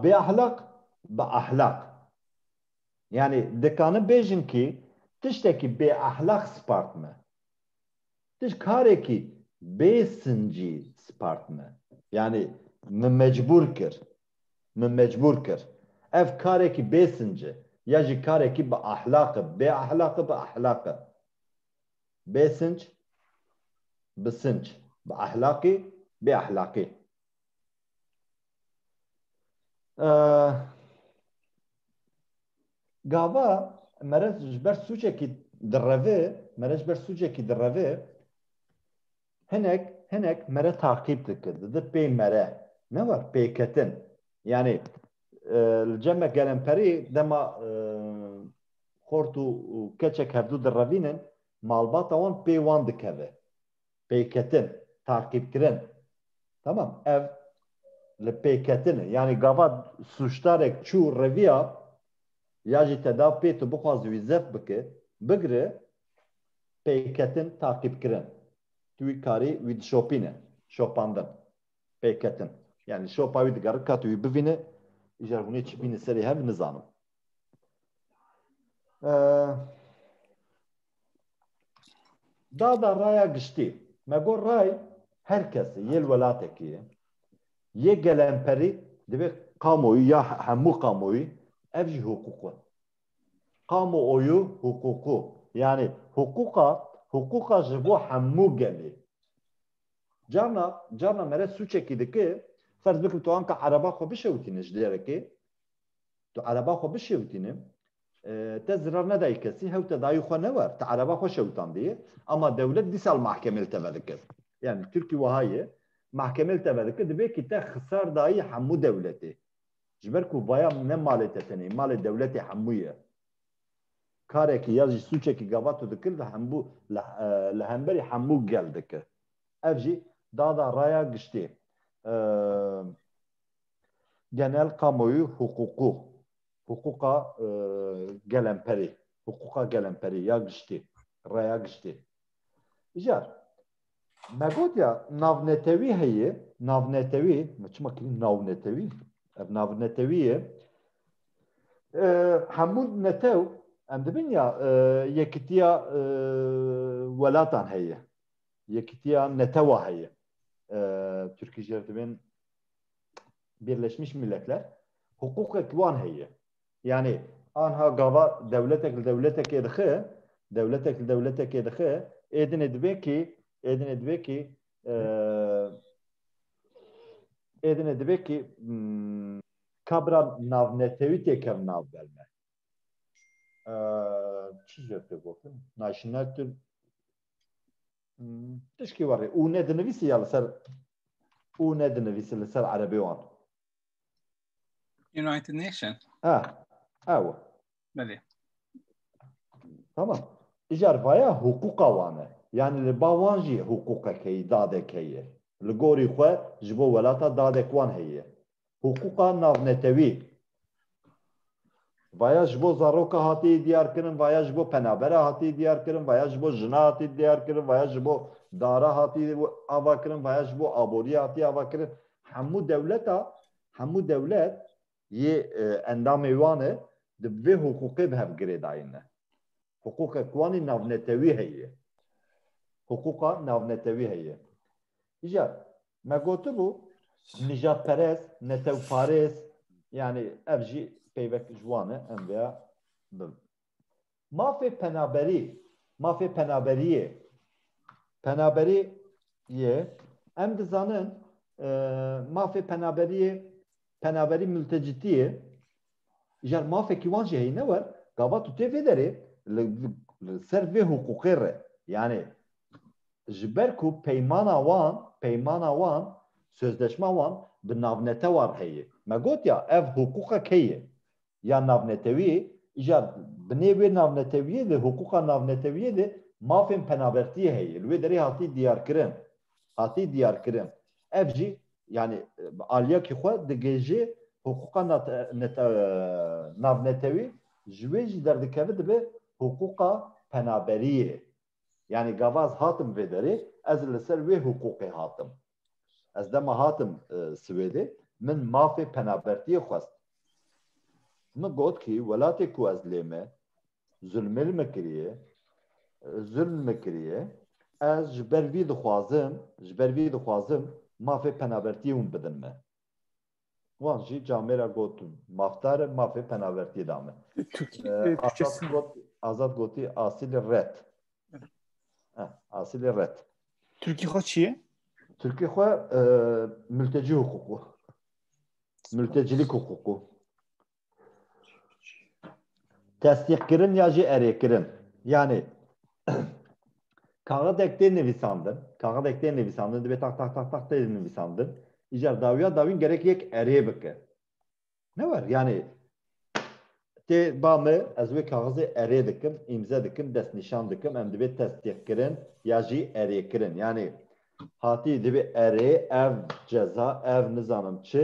Bê ehlaq bi ehlaq. Yani dikanin bêjin kî tiştekî bê ehlaq spart me. Tişt karekî bê sincî spart me. Yani min mecbûr kir. min mecbûr kir. Ev karekî bê sinc e, ya jî karekî bi ahlaq e, bê ahlaq e, bi ahlaq e. Bê sinc, bi sinc, bi ahlaqî, bê ahlaqî. Gava mere ji ber sûcekî direve, mere ji ber sûcekî direve, Hinek hinek mere taqîb dikin, didin pê mere ne wa pêketin. Yanî li cem me gelemperî dema xort û keçek hevdû direvînin malbata wan pê wan dikeve. Pêketin, taqîbkirin. Tamam ev li pêketin e. Yanî gava sûcdarek çû reviya ya jî te da pê tu bixwazi wî zef bike, bigire Pêketin taqîbkirin. Tu wî karî wî dişopîne, şopandin, pêketin. Yani li şopa wî digerin ka tu wî bivîne, îcar hûnê çi bîne serê hev nizanim. Dada raya giştî. Me got ray her kesê yê li welatekî ye. Yê gelemperî divê kamoyî ya hemû kamoyî ev jî hiqûq in. kamuoyu huququ yanî huquqa huquqa ji bo hemû gelê. Carna carna mere sûçekî dike ferz bikim tu anka ereba xwe bişewitîne ji derekê tu ereba xwe bişewitîne te zirar nedayî kesî hew te dayî xwe newer te ereba xwe şewitandiye ama dewlet dî sal mahkemê li te vedikir yanî Tirkî wiha ye mahkemê li te vedikir divê kî te xisar dayî hemû dewletê Ji ber ku vaya ne malê te tenê, malê dewletê hemû ye. Karekî ya jî sûçekî gavato dikir li hembû li hemberî hemû gel dikir. Ev jî dada raya giştî genel kamoyû hiqûqû, hiqûqa gelemperî, hiqûqa gelemperî ya giştî, raya giştî. Îcar Me gotiya navnetewî heye, navnetewî, me çima kirî navnetewî, ev navnetewî ye. Hemû netew em dibin ya yekitiya welatan heye. Yekitiya netewa heye. Türkî jê dibin Birleşmiş Milletler hukukek wan heye. Yanî anha gava dewletek li dewletekê dixe, dewletek li dewletekê dixe, êdinê dibe kî, êdinê dibe kî, êdinê dibe kî kabira navnetewî têkevin nav ber me. Çi ji pê gotin? National tu tişkî warê û ne dinivîsî ya li ser û ne dinivîsî li ser erebê wan. United Nation. Ha, ew. Belê. Tamam. Îcar vaya hukûqa wan e. Yanî li ba wan jî hukûqek heye, dadek heye. Li gorî xwe ji bo welata dadek wan heye. Hukûqa navnetewî. Vaya ji bo zaroka hatiye diyarkirin, vaya ji bo penabera hatiye diyarkirin, vaya ji bo jina hatiye diyarkirin, vaya ji bo dara hatiye avakirin, vaya ji bo aboriyê hatiye avakirin. Hemû dewleta, hemû dewlet yê endamê wan e di bi vê hiqûqê bi hev girêdayîn ne. Hiqûqek wan ê navnetewî heye. Hiqûqa navnetewî heye. Ja, me gotibû nijadperest, netewparêz yanî ev jî peyvek ji wan e em vêya bim. Mafê penaberî, mafê penaberiyê, penaberî yê em dizanin mafê penaberiyê, penaberî multecitî yê, Jar mafekî wan jî heyîne wer, gava tu tê vê derê li li ser vê hiqûqê re yanê ji ber ku peymana wan peymana wan sözleşma wan bi navnetewa re heye. Me gotiya ev hiqûqa kê ye? Ya navnetewî îja binê wê navnetewiyê de hiqûqa navnetewiyê de mafên penabertiyê heye. Li wê derê hatiye diyarkirin. Hatiye diyarkirin. Ev jî yani aliyakî xwe digêjê hiqûqa navnetewî ji wê jî derdikeve dibe hiqûqa penaberiyê. Yani gava ez hatim vê derê ez li ser wê hiqûqê hatim. Ez dema hatim e, Swêdê min mafê penabertiyê xwest. Min got ki welatê ku ez lê me Zulmir me kiriye, zulm me kiriye. Ez ji ber vî dixwazim, ji ber vî dixwazim mafê penabertiyê hûn bidin me. Wan jî camê re got mafdar e, mafê penabertiyê da min. Azad gotî asîlê red. Asîlê red. Tirkî xwe çi ye? Tirkî xwe miltecî huquqû. Miltecîlîk huquqû. Tesdîqkirin ya jî erêkirin. Yanê kaxidek tê nivîsandin, kaxidek tê nivîsandin dibê tax tax tax tax tê nivîsandin. Îcar dawiya dawîn gerek yek erê bike. Ne wer yanê tê ba min ez wê kaxizê erê dikim, îmze dikim, destnîşan dikim, em dibê tesdîqkirin ya jî erêkirin. Yanê hatî dibê erê ev ceza ev nizanim çi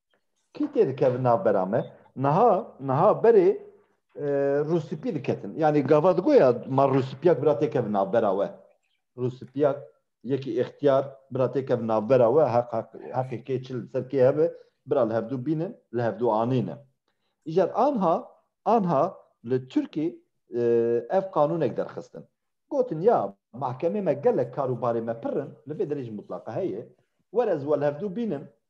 Kî tê dikevin navbera me? Niha niha berê rûspî diketin. Yanî gava digoya ma rûspîyak bira tê kevin navbera we. Rûspîyak yekî îxtiyar bira tê kevin navbera we heq heq heqê kê çil ser kê hebe bira li hevdû bînin li hevdû anînin. Îcar anha anha li Tirkî ev qanûnek derxistin. Gotin ya mahkemê me gelek kar û barê me pir in li vê derê jî mutlaqa heye. Were ez we li hevdû bînin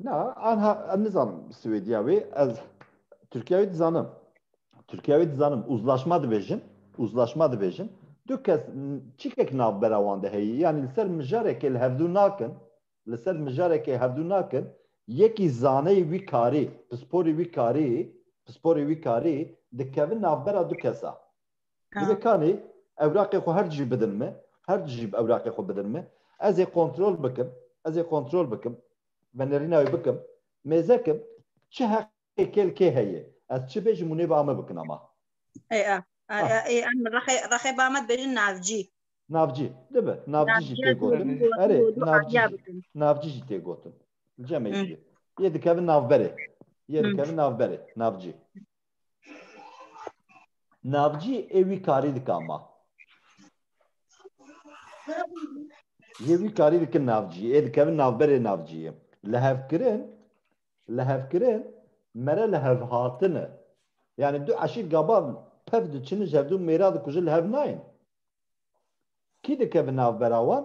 Na, anha em nizanim Swêdiya wê ez Tirkiya wê dizanim. Tirkiya wê dizanim uzlaşma dibêjin, uzlaşma dibêjin. Du kes çîkek navbera wan de heye. Yani li ser mijarekê li hevdû nakin, li ser mijarekê hevdû nakin, yekî zaneyê wî karî, pisporê wî karî, pisporê wî karî dikevin navbera du kesa. Divê kanî ewraqê xwe her dijî bidin min, her dijî ewraqê xwe bidin min, ez ê kontrol bikim, ez ê kontrol bikim, venêrîna wê bikim, mêzekim, çi heqê kêl kê heye, ez çi bêjim û nêba me bikin ama. Ê a, ê em rexê, rexê ba me dibêjin navcî. Navcî, dibe, navcî jî tê gotin. Erê, navcî jî, navcî jî tê gotin. Cemê jî. Yê dikevin navberê. Yê dikevin navberê, navcî. Navcî ê wî karî dika ma. Yê wî karî dikin navcî ê dikevin navberê navcîyê. Li hevkirin li hevkirin mere li hevhatin e. Yani du eşîr gaban pev diçin ji hevdu mêra dikujin li hev nayên. Kî dikevin navbera wan?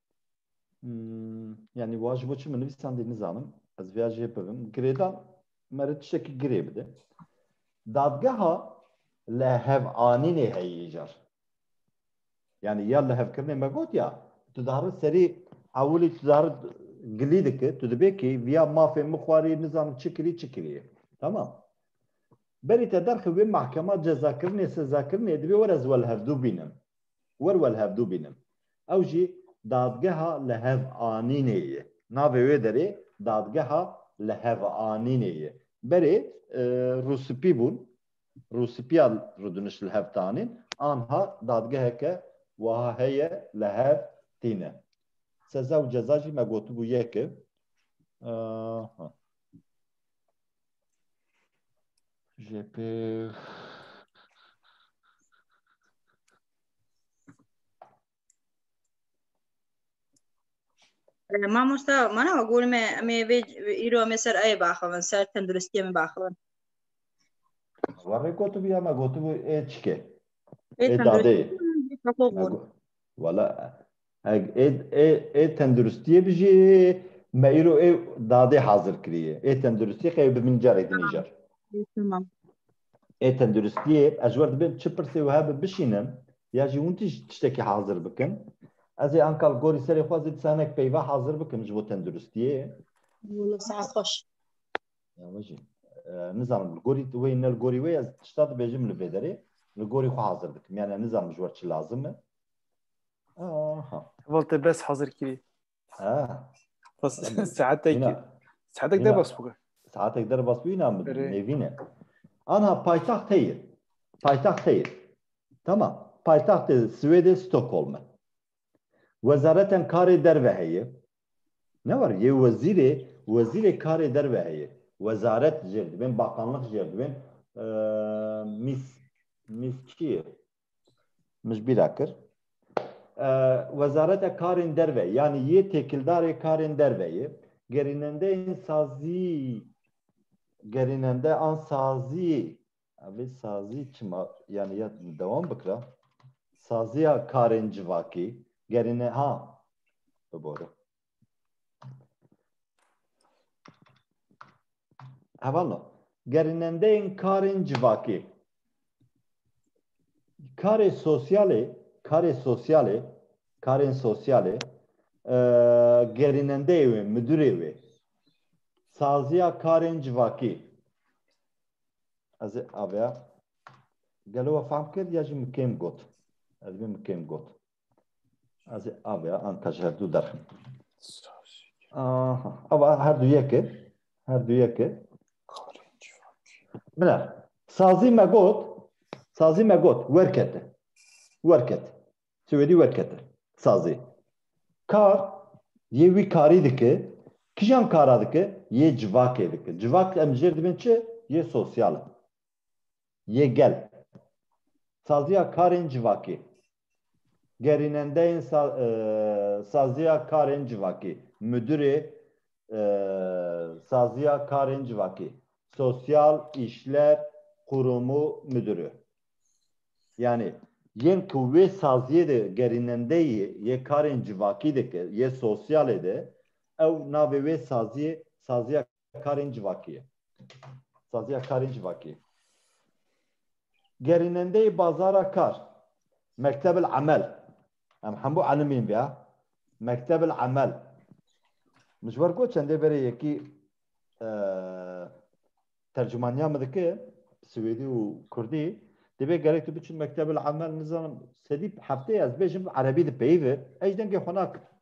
yani wa ji bo çi min nivîsandî nizanim ez vêya jê bibim girêdan mere tiştekî girê bide dadgeha li hevanînê heyî îcar yani ya li hevkirinê me got ya tu diharin serî ewilî tu diharin gilî dike tu dibê kî viya mafê min xwarî nizanim çi kirî çi kirî tamam berî te derxivê mahkema cezakirinê sezakirinê divê were ez we li hevdû bînim Wer we li hevdû bînim. Ew jî Dadgeha Lihevanînê ye. Navê wê derê Dadgeha Lihevanînê ye. Berê rûspî bûn, rûspîya rûdiniş li hev tanîn, anha dadgeheke wiha heye li hev tîne. Seza û ceza jî me gotibû yek e. Jê pê Mamosta mana wa gol me em ê vê îro em ê ser ayê baxivin ser tenduristiyê min baxivin. Warê gotibi ya me gotibi ê çike. Ê Ê dadê. tenduristiyê min jî xwe xwe gol. Wala Eg ê ê ê tenduristiyê bijî me îro ê dadê hazir kirîyê. Ê tenduristiyê qey bi min carek din îcar. Tamam. Ê tenduristiyê ez ji wer dibêm çi pirsê û hebe bişînim ya jî hûn tij tiştekî hazir bikin. Ez ê ankal gorî serê xwe zî disanek peyva hazir bikim ji bo tenduristiyê. Wala saet xweş. Ya me jî. Nizanim li gorî wê ne li gorî wê ez tişta dibêjim li vê derê li gorî xwe hazir dikim. Yani nizanim ji wer çi lazim e. Aha. Voltê bes hazir kirî. Ha. Bas saetek Yine. saetek Yine. derbas bû. Saetek derbas bû inan bidin. Rê. Nevîne. Anha paytaxt heye. Paytaxt heye. Tamam. Paytaxtê Swêdê Stockholm e. Wezaretên karê derve heye. Ne var yê wezîrê, wezîrê karê derve heye. Wezaret jêr dibên, bakanlıq jêr dibên. Ee, mis, mis çi ye? mijbîra kir. Wezareta Karên Derve yanî yê têkildarê karên derve yê gerînendeyên sazî gerînende an sazî evê sazî çima yanî ya dewam bikira saziya karên civakî gerîne ha bibore. Hevala, gerinendeyên karên civakê. Karê sosyalê, karê sosyalê, karên sosyalê e, gerînendeyê wê, müdürê wê. Saziya karên civakî. Ez ê aveya. Gelo we fahm kir ya jî min kêm got. Ez min kêm got. Ez ê avê an te ji herdû derxim. Aha, ava her du yeke, her du yeke. Bila, sazî me got, sazî me got, werkete. Werket. Swêdî werkete. Sazî. Kar, yê wî karî dike, kijan kara dike, yê civakê dike. Civak em jêr dibin çi? Yê sosyal e. Yê gel. Saziya karên civakê. gerînendeyên Saziya Karên Civakî, Mudîrê Saziya Karên Civakî, Sosyal Îşler Qurûmû Mudîrî. Yanî yên ku wê saziyê de gerînendeyî yê karên civakî dike, yê sosyalê de ew navê wê saziyê Saziya karên civakî ye. Saziya karên civakî. Gerînendeyê bazara kar. Mektebil emel. Em hemû elimîn be. Mektebil emel. Min ji ber got çendê verê yekî e, tercumaniya min dike swêdî û kurdî divê gerek tu biçî mektebil emel nizanim sedî hefteyê ez bêjim erebî dipeyivir ej dengê xwe nakim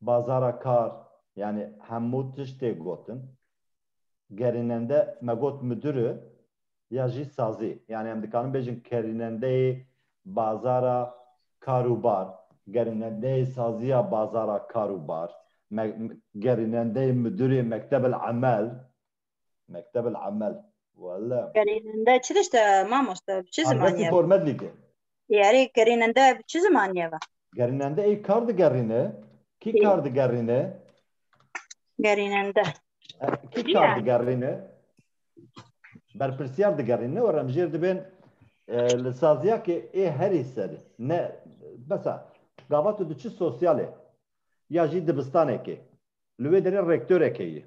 bazara kar yanî hemû tişt tê gotin. Gerînende me got midir e ya jî sazî yanî em dikarin bêjin kerînendeyê bazara kar û bar, gerînendeyê saziya bazara kar û bar, gerînendeyê midirê mektebel emel Mekteb el Amel. Wala. Gerînende çi dişte mamoste? Bi çi zimanî Arbetî ye? Gormedlîkê. Yerê gerînende bi çi zimanî ye ve? Gerînende ê kar digerîne. Kî Ê. kar digerîne? Gerînende. E, Kî Kî kar ye? digerîne? Berpirsiyar digerîne û remjêr dibên e, li saziyakê ê herî serî. Ne besa gava tu diçi sosyalê ya jî dibistanekê. Li wê derê rektoreke yî.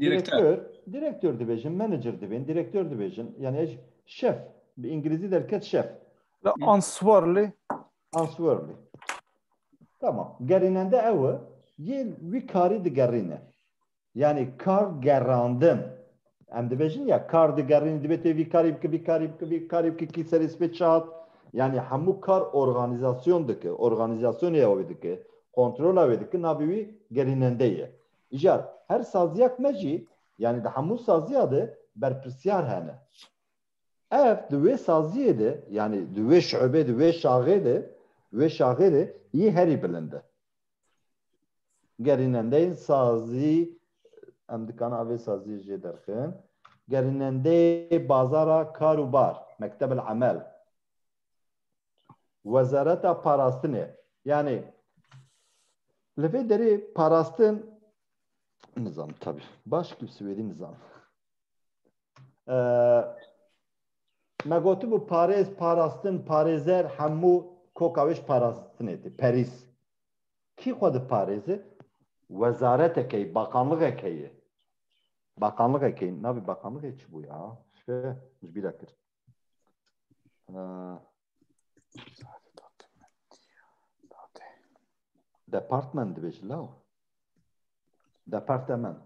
Direktör, direktör dibêjin, manager dibên, direktör dibêjin. Yani ez şef, bi İngilizî derket şef. La answerli. Answerli. Tamam. Gerînende ew e, yê wî karî digerîne. Yani kar gerandin. Em dibêjin ya kar digerîn, dibê tê vî karî bike, vî karî bike, vî karî bike, kî serê spê çat. Yani hemû kar organîzasyon dike, organîzasyonê ew dike, kontrola wê dike, navê wî gerînende ye. Îcar, Her saziya ku me jî yanî di hemû saziya de berpirsyar hene. Ev di wê saziyê de yanî di wê şuebê di wê şaxê de wê şaxê de yî herî bilind e. Gerînendeyên sazî em dikan a vê saziyê jê derxin gerînendeyê bazara kar û bar, mektebel emel. Wezareta Parastinê yanê li vê derê parastin nizam tabi baş kî Swêdî nizam. Me gotibû parêz, parastin, parêzer hemû koka wêş parastinê tê perîs. Kî xwe di parêzi wezareteke ye, bakanlixeke ye. Bakanlixeke ye, navê bakanlixê çi bû ya? Ji bîra kir. Department dibêjin law. Departement.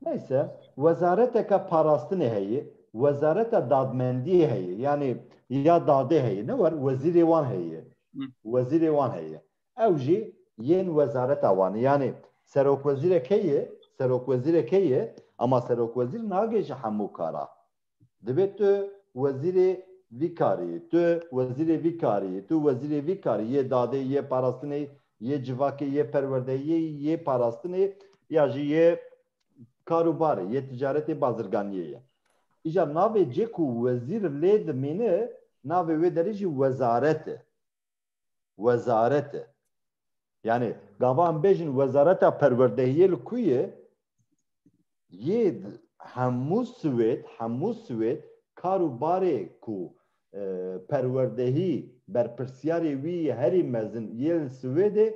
Neyse, wezareteke parastinê heye, wezareta dadmendiyê heye, yanî ya dadê heye, ne wer wezîrê wan heye. Wezîrê wan heye. Ew jî yên wezareta wan e. Yanî serokwezîre key e, serokwezîre key e, ema serokwezîr nagê ji hemû kara. Divê tu wezîrê vî karî, tu wezîrê vî karî, tu wezîrê vî karî yê dadê, yê parastinê, yê civakê, yê perwerdeyê, yê parastinê ya jî yê karûbarê, yê ticaretê bazirganiyê ye. Îcar navê cê ku wezîr lê dimîne navê wê derê jî wezaret e. Wezaret e. Yanî gava em bêjin wezareta perwerdehiyê li ku ye? Yê hemû Swêd, hemû Swêd kar û barê ku perwerdehî berpirsiyarê wî yê herî mezin yê li Swêdê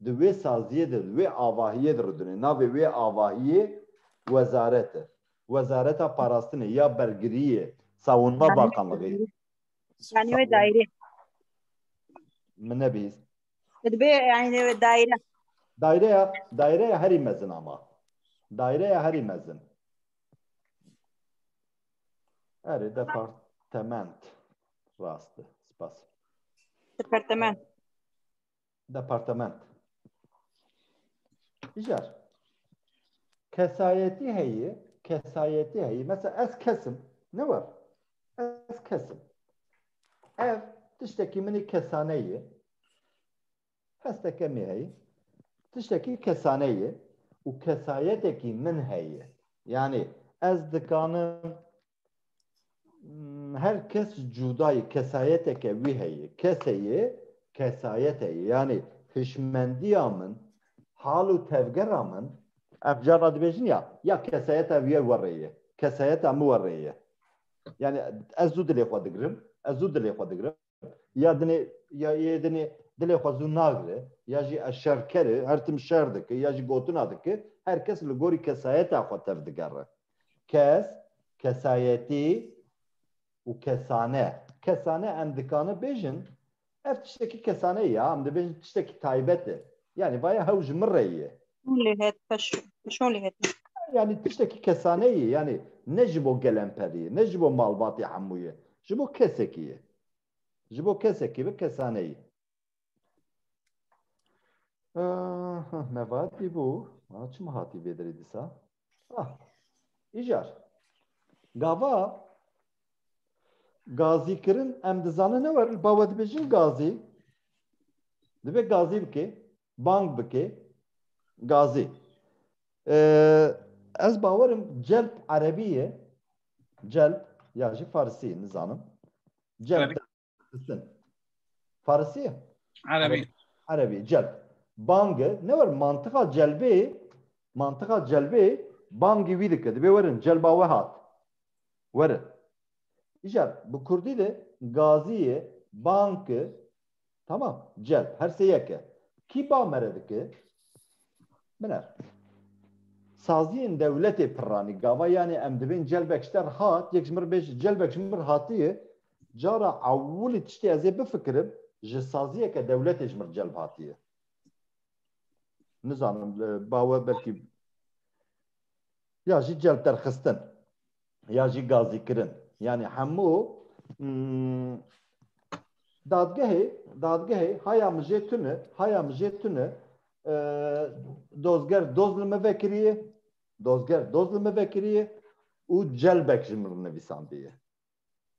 di wê saziyê de, di wê avahiyê de rûdine. Navê wê avahiyê wezaret e. Wezareta parastinê ya bergiriyê, sawinma bakanlixê. Yani wê daire. Min nebîst. Dibe yani wê daire. Daireya, daireya herî mezin ama. Daireya herî mezin. Erê departement. Rast. Spas. Departement. departement. Jar kesayetî heye, kesayetî heye. Mesela ez kesim, ne war. Ez kesim. Ev tiştekî min ê kesane ye. Hesteke me heye. Tiştekî kesane ye û kesayetekî min heye. Yani ez dikanim her kes cudayê kesayeteke wî heye keseyê kesayete ye yanê hişmendiya min hal û tevgera min ev cara dibêjin ya ya kesayeta wî werê ye kesayeta min werê ye yanê ez zû dilê xwe digirim ez zû dilê xwe digirim ya dinê ya yê dinê dilê xwe zû nagire ya jî ez şerker e her tim şer dike ya jî gotina dike her kes li gorî kesayeta xwe tev digere kes kesayetî û kesane kesane em dikane bêjin ev tiştekî kesane ya em dibêjin tiştekî taybet e yanî vaya hew ji min re ye Şûn lê het şûn lê het. Yanî tiştekî kesane ye yanî ne ji bo gelemperî ye ne ji bo malbatê hemû ye ji bo kesekî ye ji bo kesekî bi kesane ye. Mevat bîbû çima hatî vê derê dîsa? Îcar gava gazî kirin em dizanin ne were bawe dibêjin gazî divê gazî bikê. bang bike gazê. Ez bawerim celp erebî ye celp ya jî farisî ye nizanim. Celp xistin. Farisî ye? Erebî. Erebî celp. Bang e. Ne wer mantiqa celbê mantiqa celbê bangî wî dike. Dibê werin celba we hat. Werin. Îcar bi kurdî de gazî ye, bang e, Tamam, celb, her sê yek e. Kî ba mere dike? Min er. Saziyên dewletê pirranî, gava yanê em dibên celbek ji te re hat, yek ji min re bêj celbek ji min re hatiye, cara ewilî tiştê ez ê bifikirim, ji saziyeke dewletê ji min re celb hatiye. Nizanim, ba we belkî ya jî celb derxistin. ya jî gazîkirin yanî hemû dadgehê dadgehê haya min jê tune haya min jê tune dozger doz li me vekiriye dozger doz li me vekiriye û celbek ji min nivîsandiye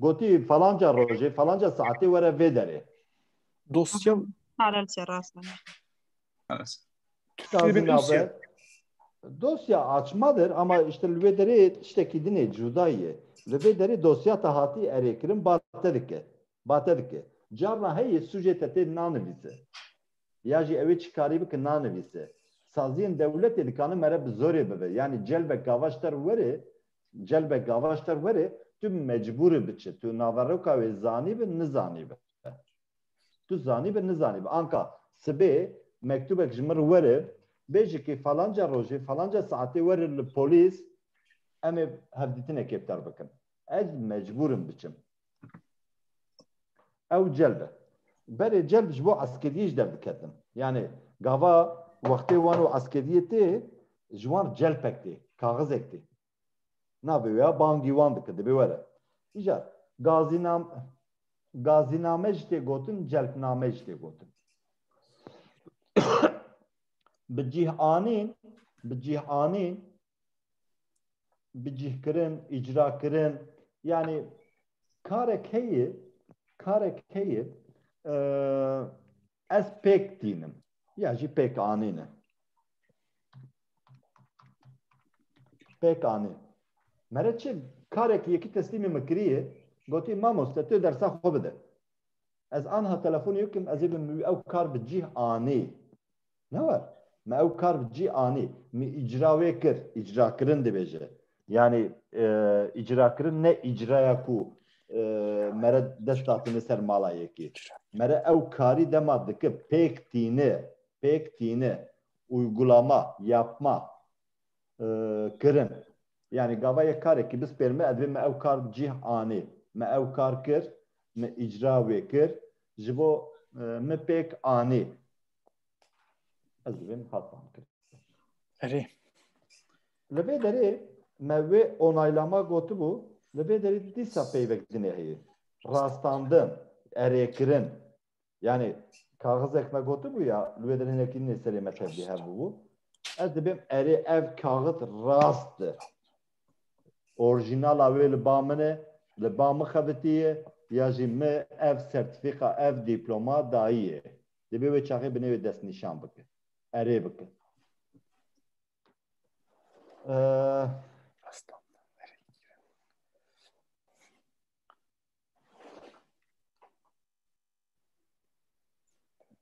Gotî falanca rojê falanca saetê were vê derê. Dosya Paralel se rast me. Çiqas Şirin nabe. dosya. Dosya açmadır ama işte li vê derê tiştekî din ê cuda ye. Li vê derê dosya te hatî erê kirin ba te dike. Ba te dike. Carna heye sûcê te tê nanivîse. Ya jî ewê çi karî bike nanivîse. Saziyên dewletê dikanin mere bi zorê bibe. Yanî celbek gavaş te re were Celbe gava ji te were tu mecbûr î biçi. Tu naveroka wê zanîbe nizanîbe. Tu zanîbe nizanîbe. Anka sibê mektûbek ji min re were bêje kê falanca rojê falanca saetê were li polîs em ê hevdîtinekê bi te re bikin. Ez mecbûr im biçim. ew celb e. Berê celb ji bo eskeriyê jî derdiketin. Yanê gava wextê wan û eskeriyê tê ji wan celpek tê, kaxizek tê. Navê wê ya bangî wan dike dibê were. Îcar gazînam gazîname jî tê gotin, celpname jî tê gotin. Bi cîh anîn, bi cîh anîn bicîhkirin, îcrakirin yanî karek heye karek heye ez pêk tînim ya jî pêk anîne pêk anî mere çi karek yekî teslîmê min kiriye gotî mamoste tu dersa xwe bide ez anha telefonê yekim ez ê bi ew kar bi cîh anî Ne war. Me ew kar bi cî anî. Min îcra wê kir. Îcrakirin dibêje. Yanî îcrakirin ne îcraya ku mere dest hatine ser mala yekê. Mere ew karî dema dike pêk tîne, pêk tîne, uygulama, yapma, kirin. Yanî gava yê karekî bispêr me, divê me ew kar bi cîh anê. Me ew kar kir, me îcra wê kir, ji bo min pêk anê. Ez divê min hat fam kirin. Erê. Li vê derê me wê onaylama gotibû, li vê derê dîsa peyvek dinê heye. Rastandin, erêkirin, Yani kaxizek me gotibû ya li wê der hinekî nê serê me tevlî hebûbû. Ez dibêm erê ev kaxit rast e. Orijînala wê li ba min e, li ba min xebitiye ya jî min ev sertîfîka ev dîploma dayiye. Dibê wê çaxê bi nêwê destnîşan bike. Erê bike.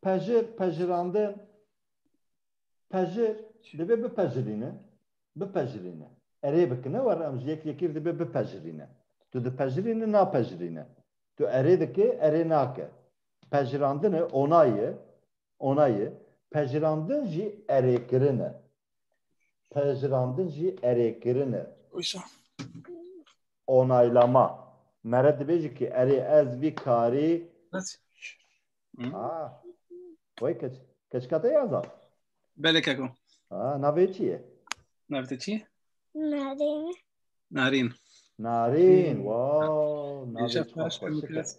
Pejir, pejirandin, pejir dibe bipejirîne, bipejirîne. Erê bikine war em ji yek yekî dibe bipejirîne. Tu dipejirîne, napejirîne. Tu erê dikê, erê nake. Pejirandine ona ye, ona ye. Pejirandin jî erêkirine. Pejirandin jî erê kirin e. Wisa. Onaylama. Mere dibêjî ki erê ez vî karî Bes. Ah. Oy keç. Keçka te ya zaf. Belê keko. Ah, navê çi ye? Navê te çi ye? Narin. Narîn. Narîn. Wow, navê Îşe çima baş xweş e. kes.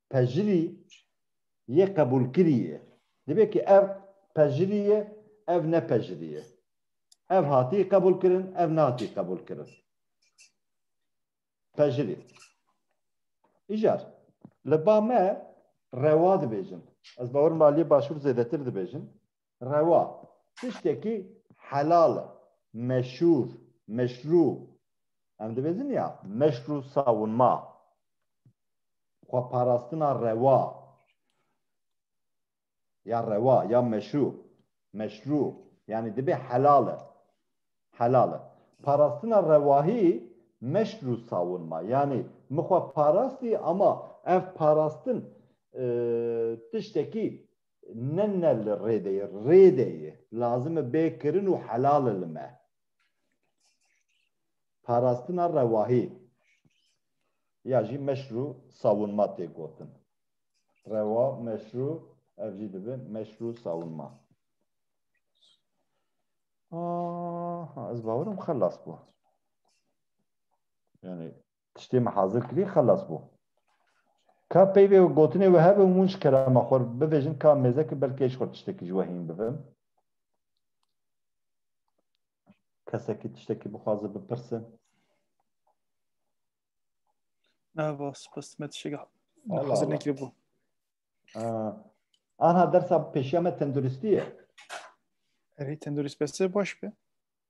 pejirî yê qebûlkirî ye. Dibe ki ev pejirî ye, ev ne pejirî ye. Ev hatî qebûlkirin, ev nehatî qebûlkirin. Pejirî. Îcar, li ba me rewa dibêjin. Ez bawer dikim aliyê başûr zêdetir dibêjin. rewa, tiştekî helal e, meşûr, meşrû. Em dibêjin ya meşrû savûnma, xweparastina rewa ya rewa ya meşû, meşrû yanî dibê helal e, helal e. Parastina rewahî meşrû savûnma yanî min xwe parastî ama ev parastin tiştekî ne ne li rêde ye rêde ye lazim e bê kirin û helal e li me parastina rewahî ya jî meşrû sawunma tê gotin rewa meşrû ev jî dibe meşrû sawunma ez bawerim xelas bû yani tiştê me hazir kirî xelas bû. Ka peyvê û gotinê wê hebe û min ji kerema xwe re bivejin ka mêzekê belkî ez ji xwe tiştekî ji we hîn bibim. Kesekî tiştekî bixwaze bipirsin. Ne va spas me tiştekî hazir nekirî bû. Anha dersa pêşiya me tenduristî ye. Erê tendurîst bes e baş be.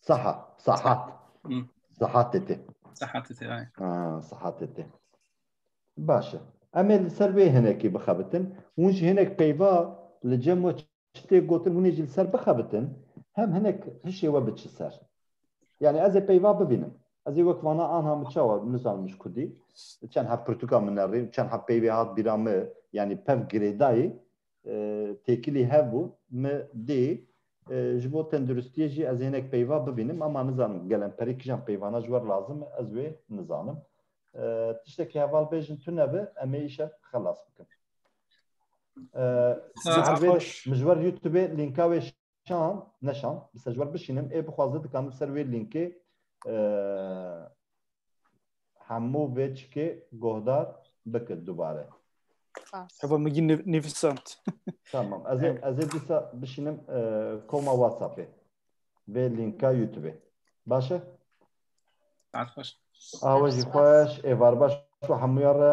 Saha, sahat. Sahat tê. Sahat tê, ay. Ha, sahat tê. Baş e. Em ê li ser wê hinekî bixebitin. Hûn ji hinek peyva li cem we çitê gotin hûnê jî li ser bixebitin, hem hinek hişê we biçi ser. Yani ez ê peyva bibînim. Ez ê wek vana anha min çawa nizanim ji kurdî. Çend heb pirtûka min erê, çend heb peyvê hat bîra me, yani pev girêdayê, têkilî hev bû min dê ji bo tenduristiyê jî ez hinek peyva bibînim ama nizanim gelem perî kijan peyvana ji wer lazim e ez wê nizanim tiştekî heval bêjin tu nebe em ê îşev xelas bikin min ji wer youtubê lînka wê Şam, ne şam, bi sejwer bişînim, ê bixwaze dikanim ser wê lînkê hemû vê çikê gohdar bikin dubare. Heba min gî nivîsand. Tamam, ez ê ez ê dîsa bişînim koma WhatsAppê. Vê lînka YouTubeê. Baş e? Saet xweş. Awejî xweş, êvar baş û hemûyan re.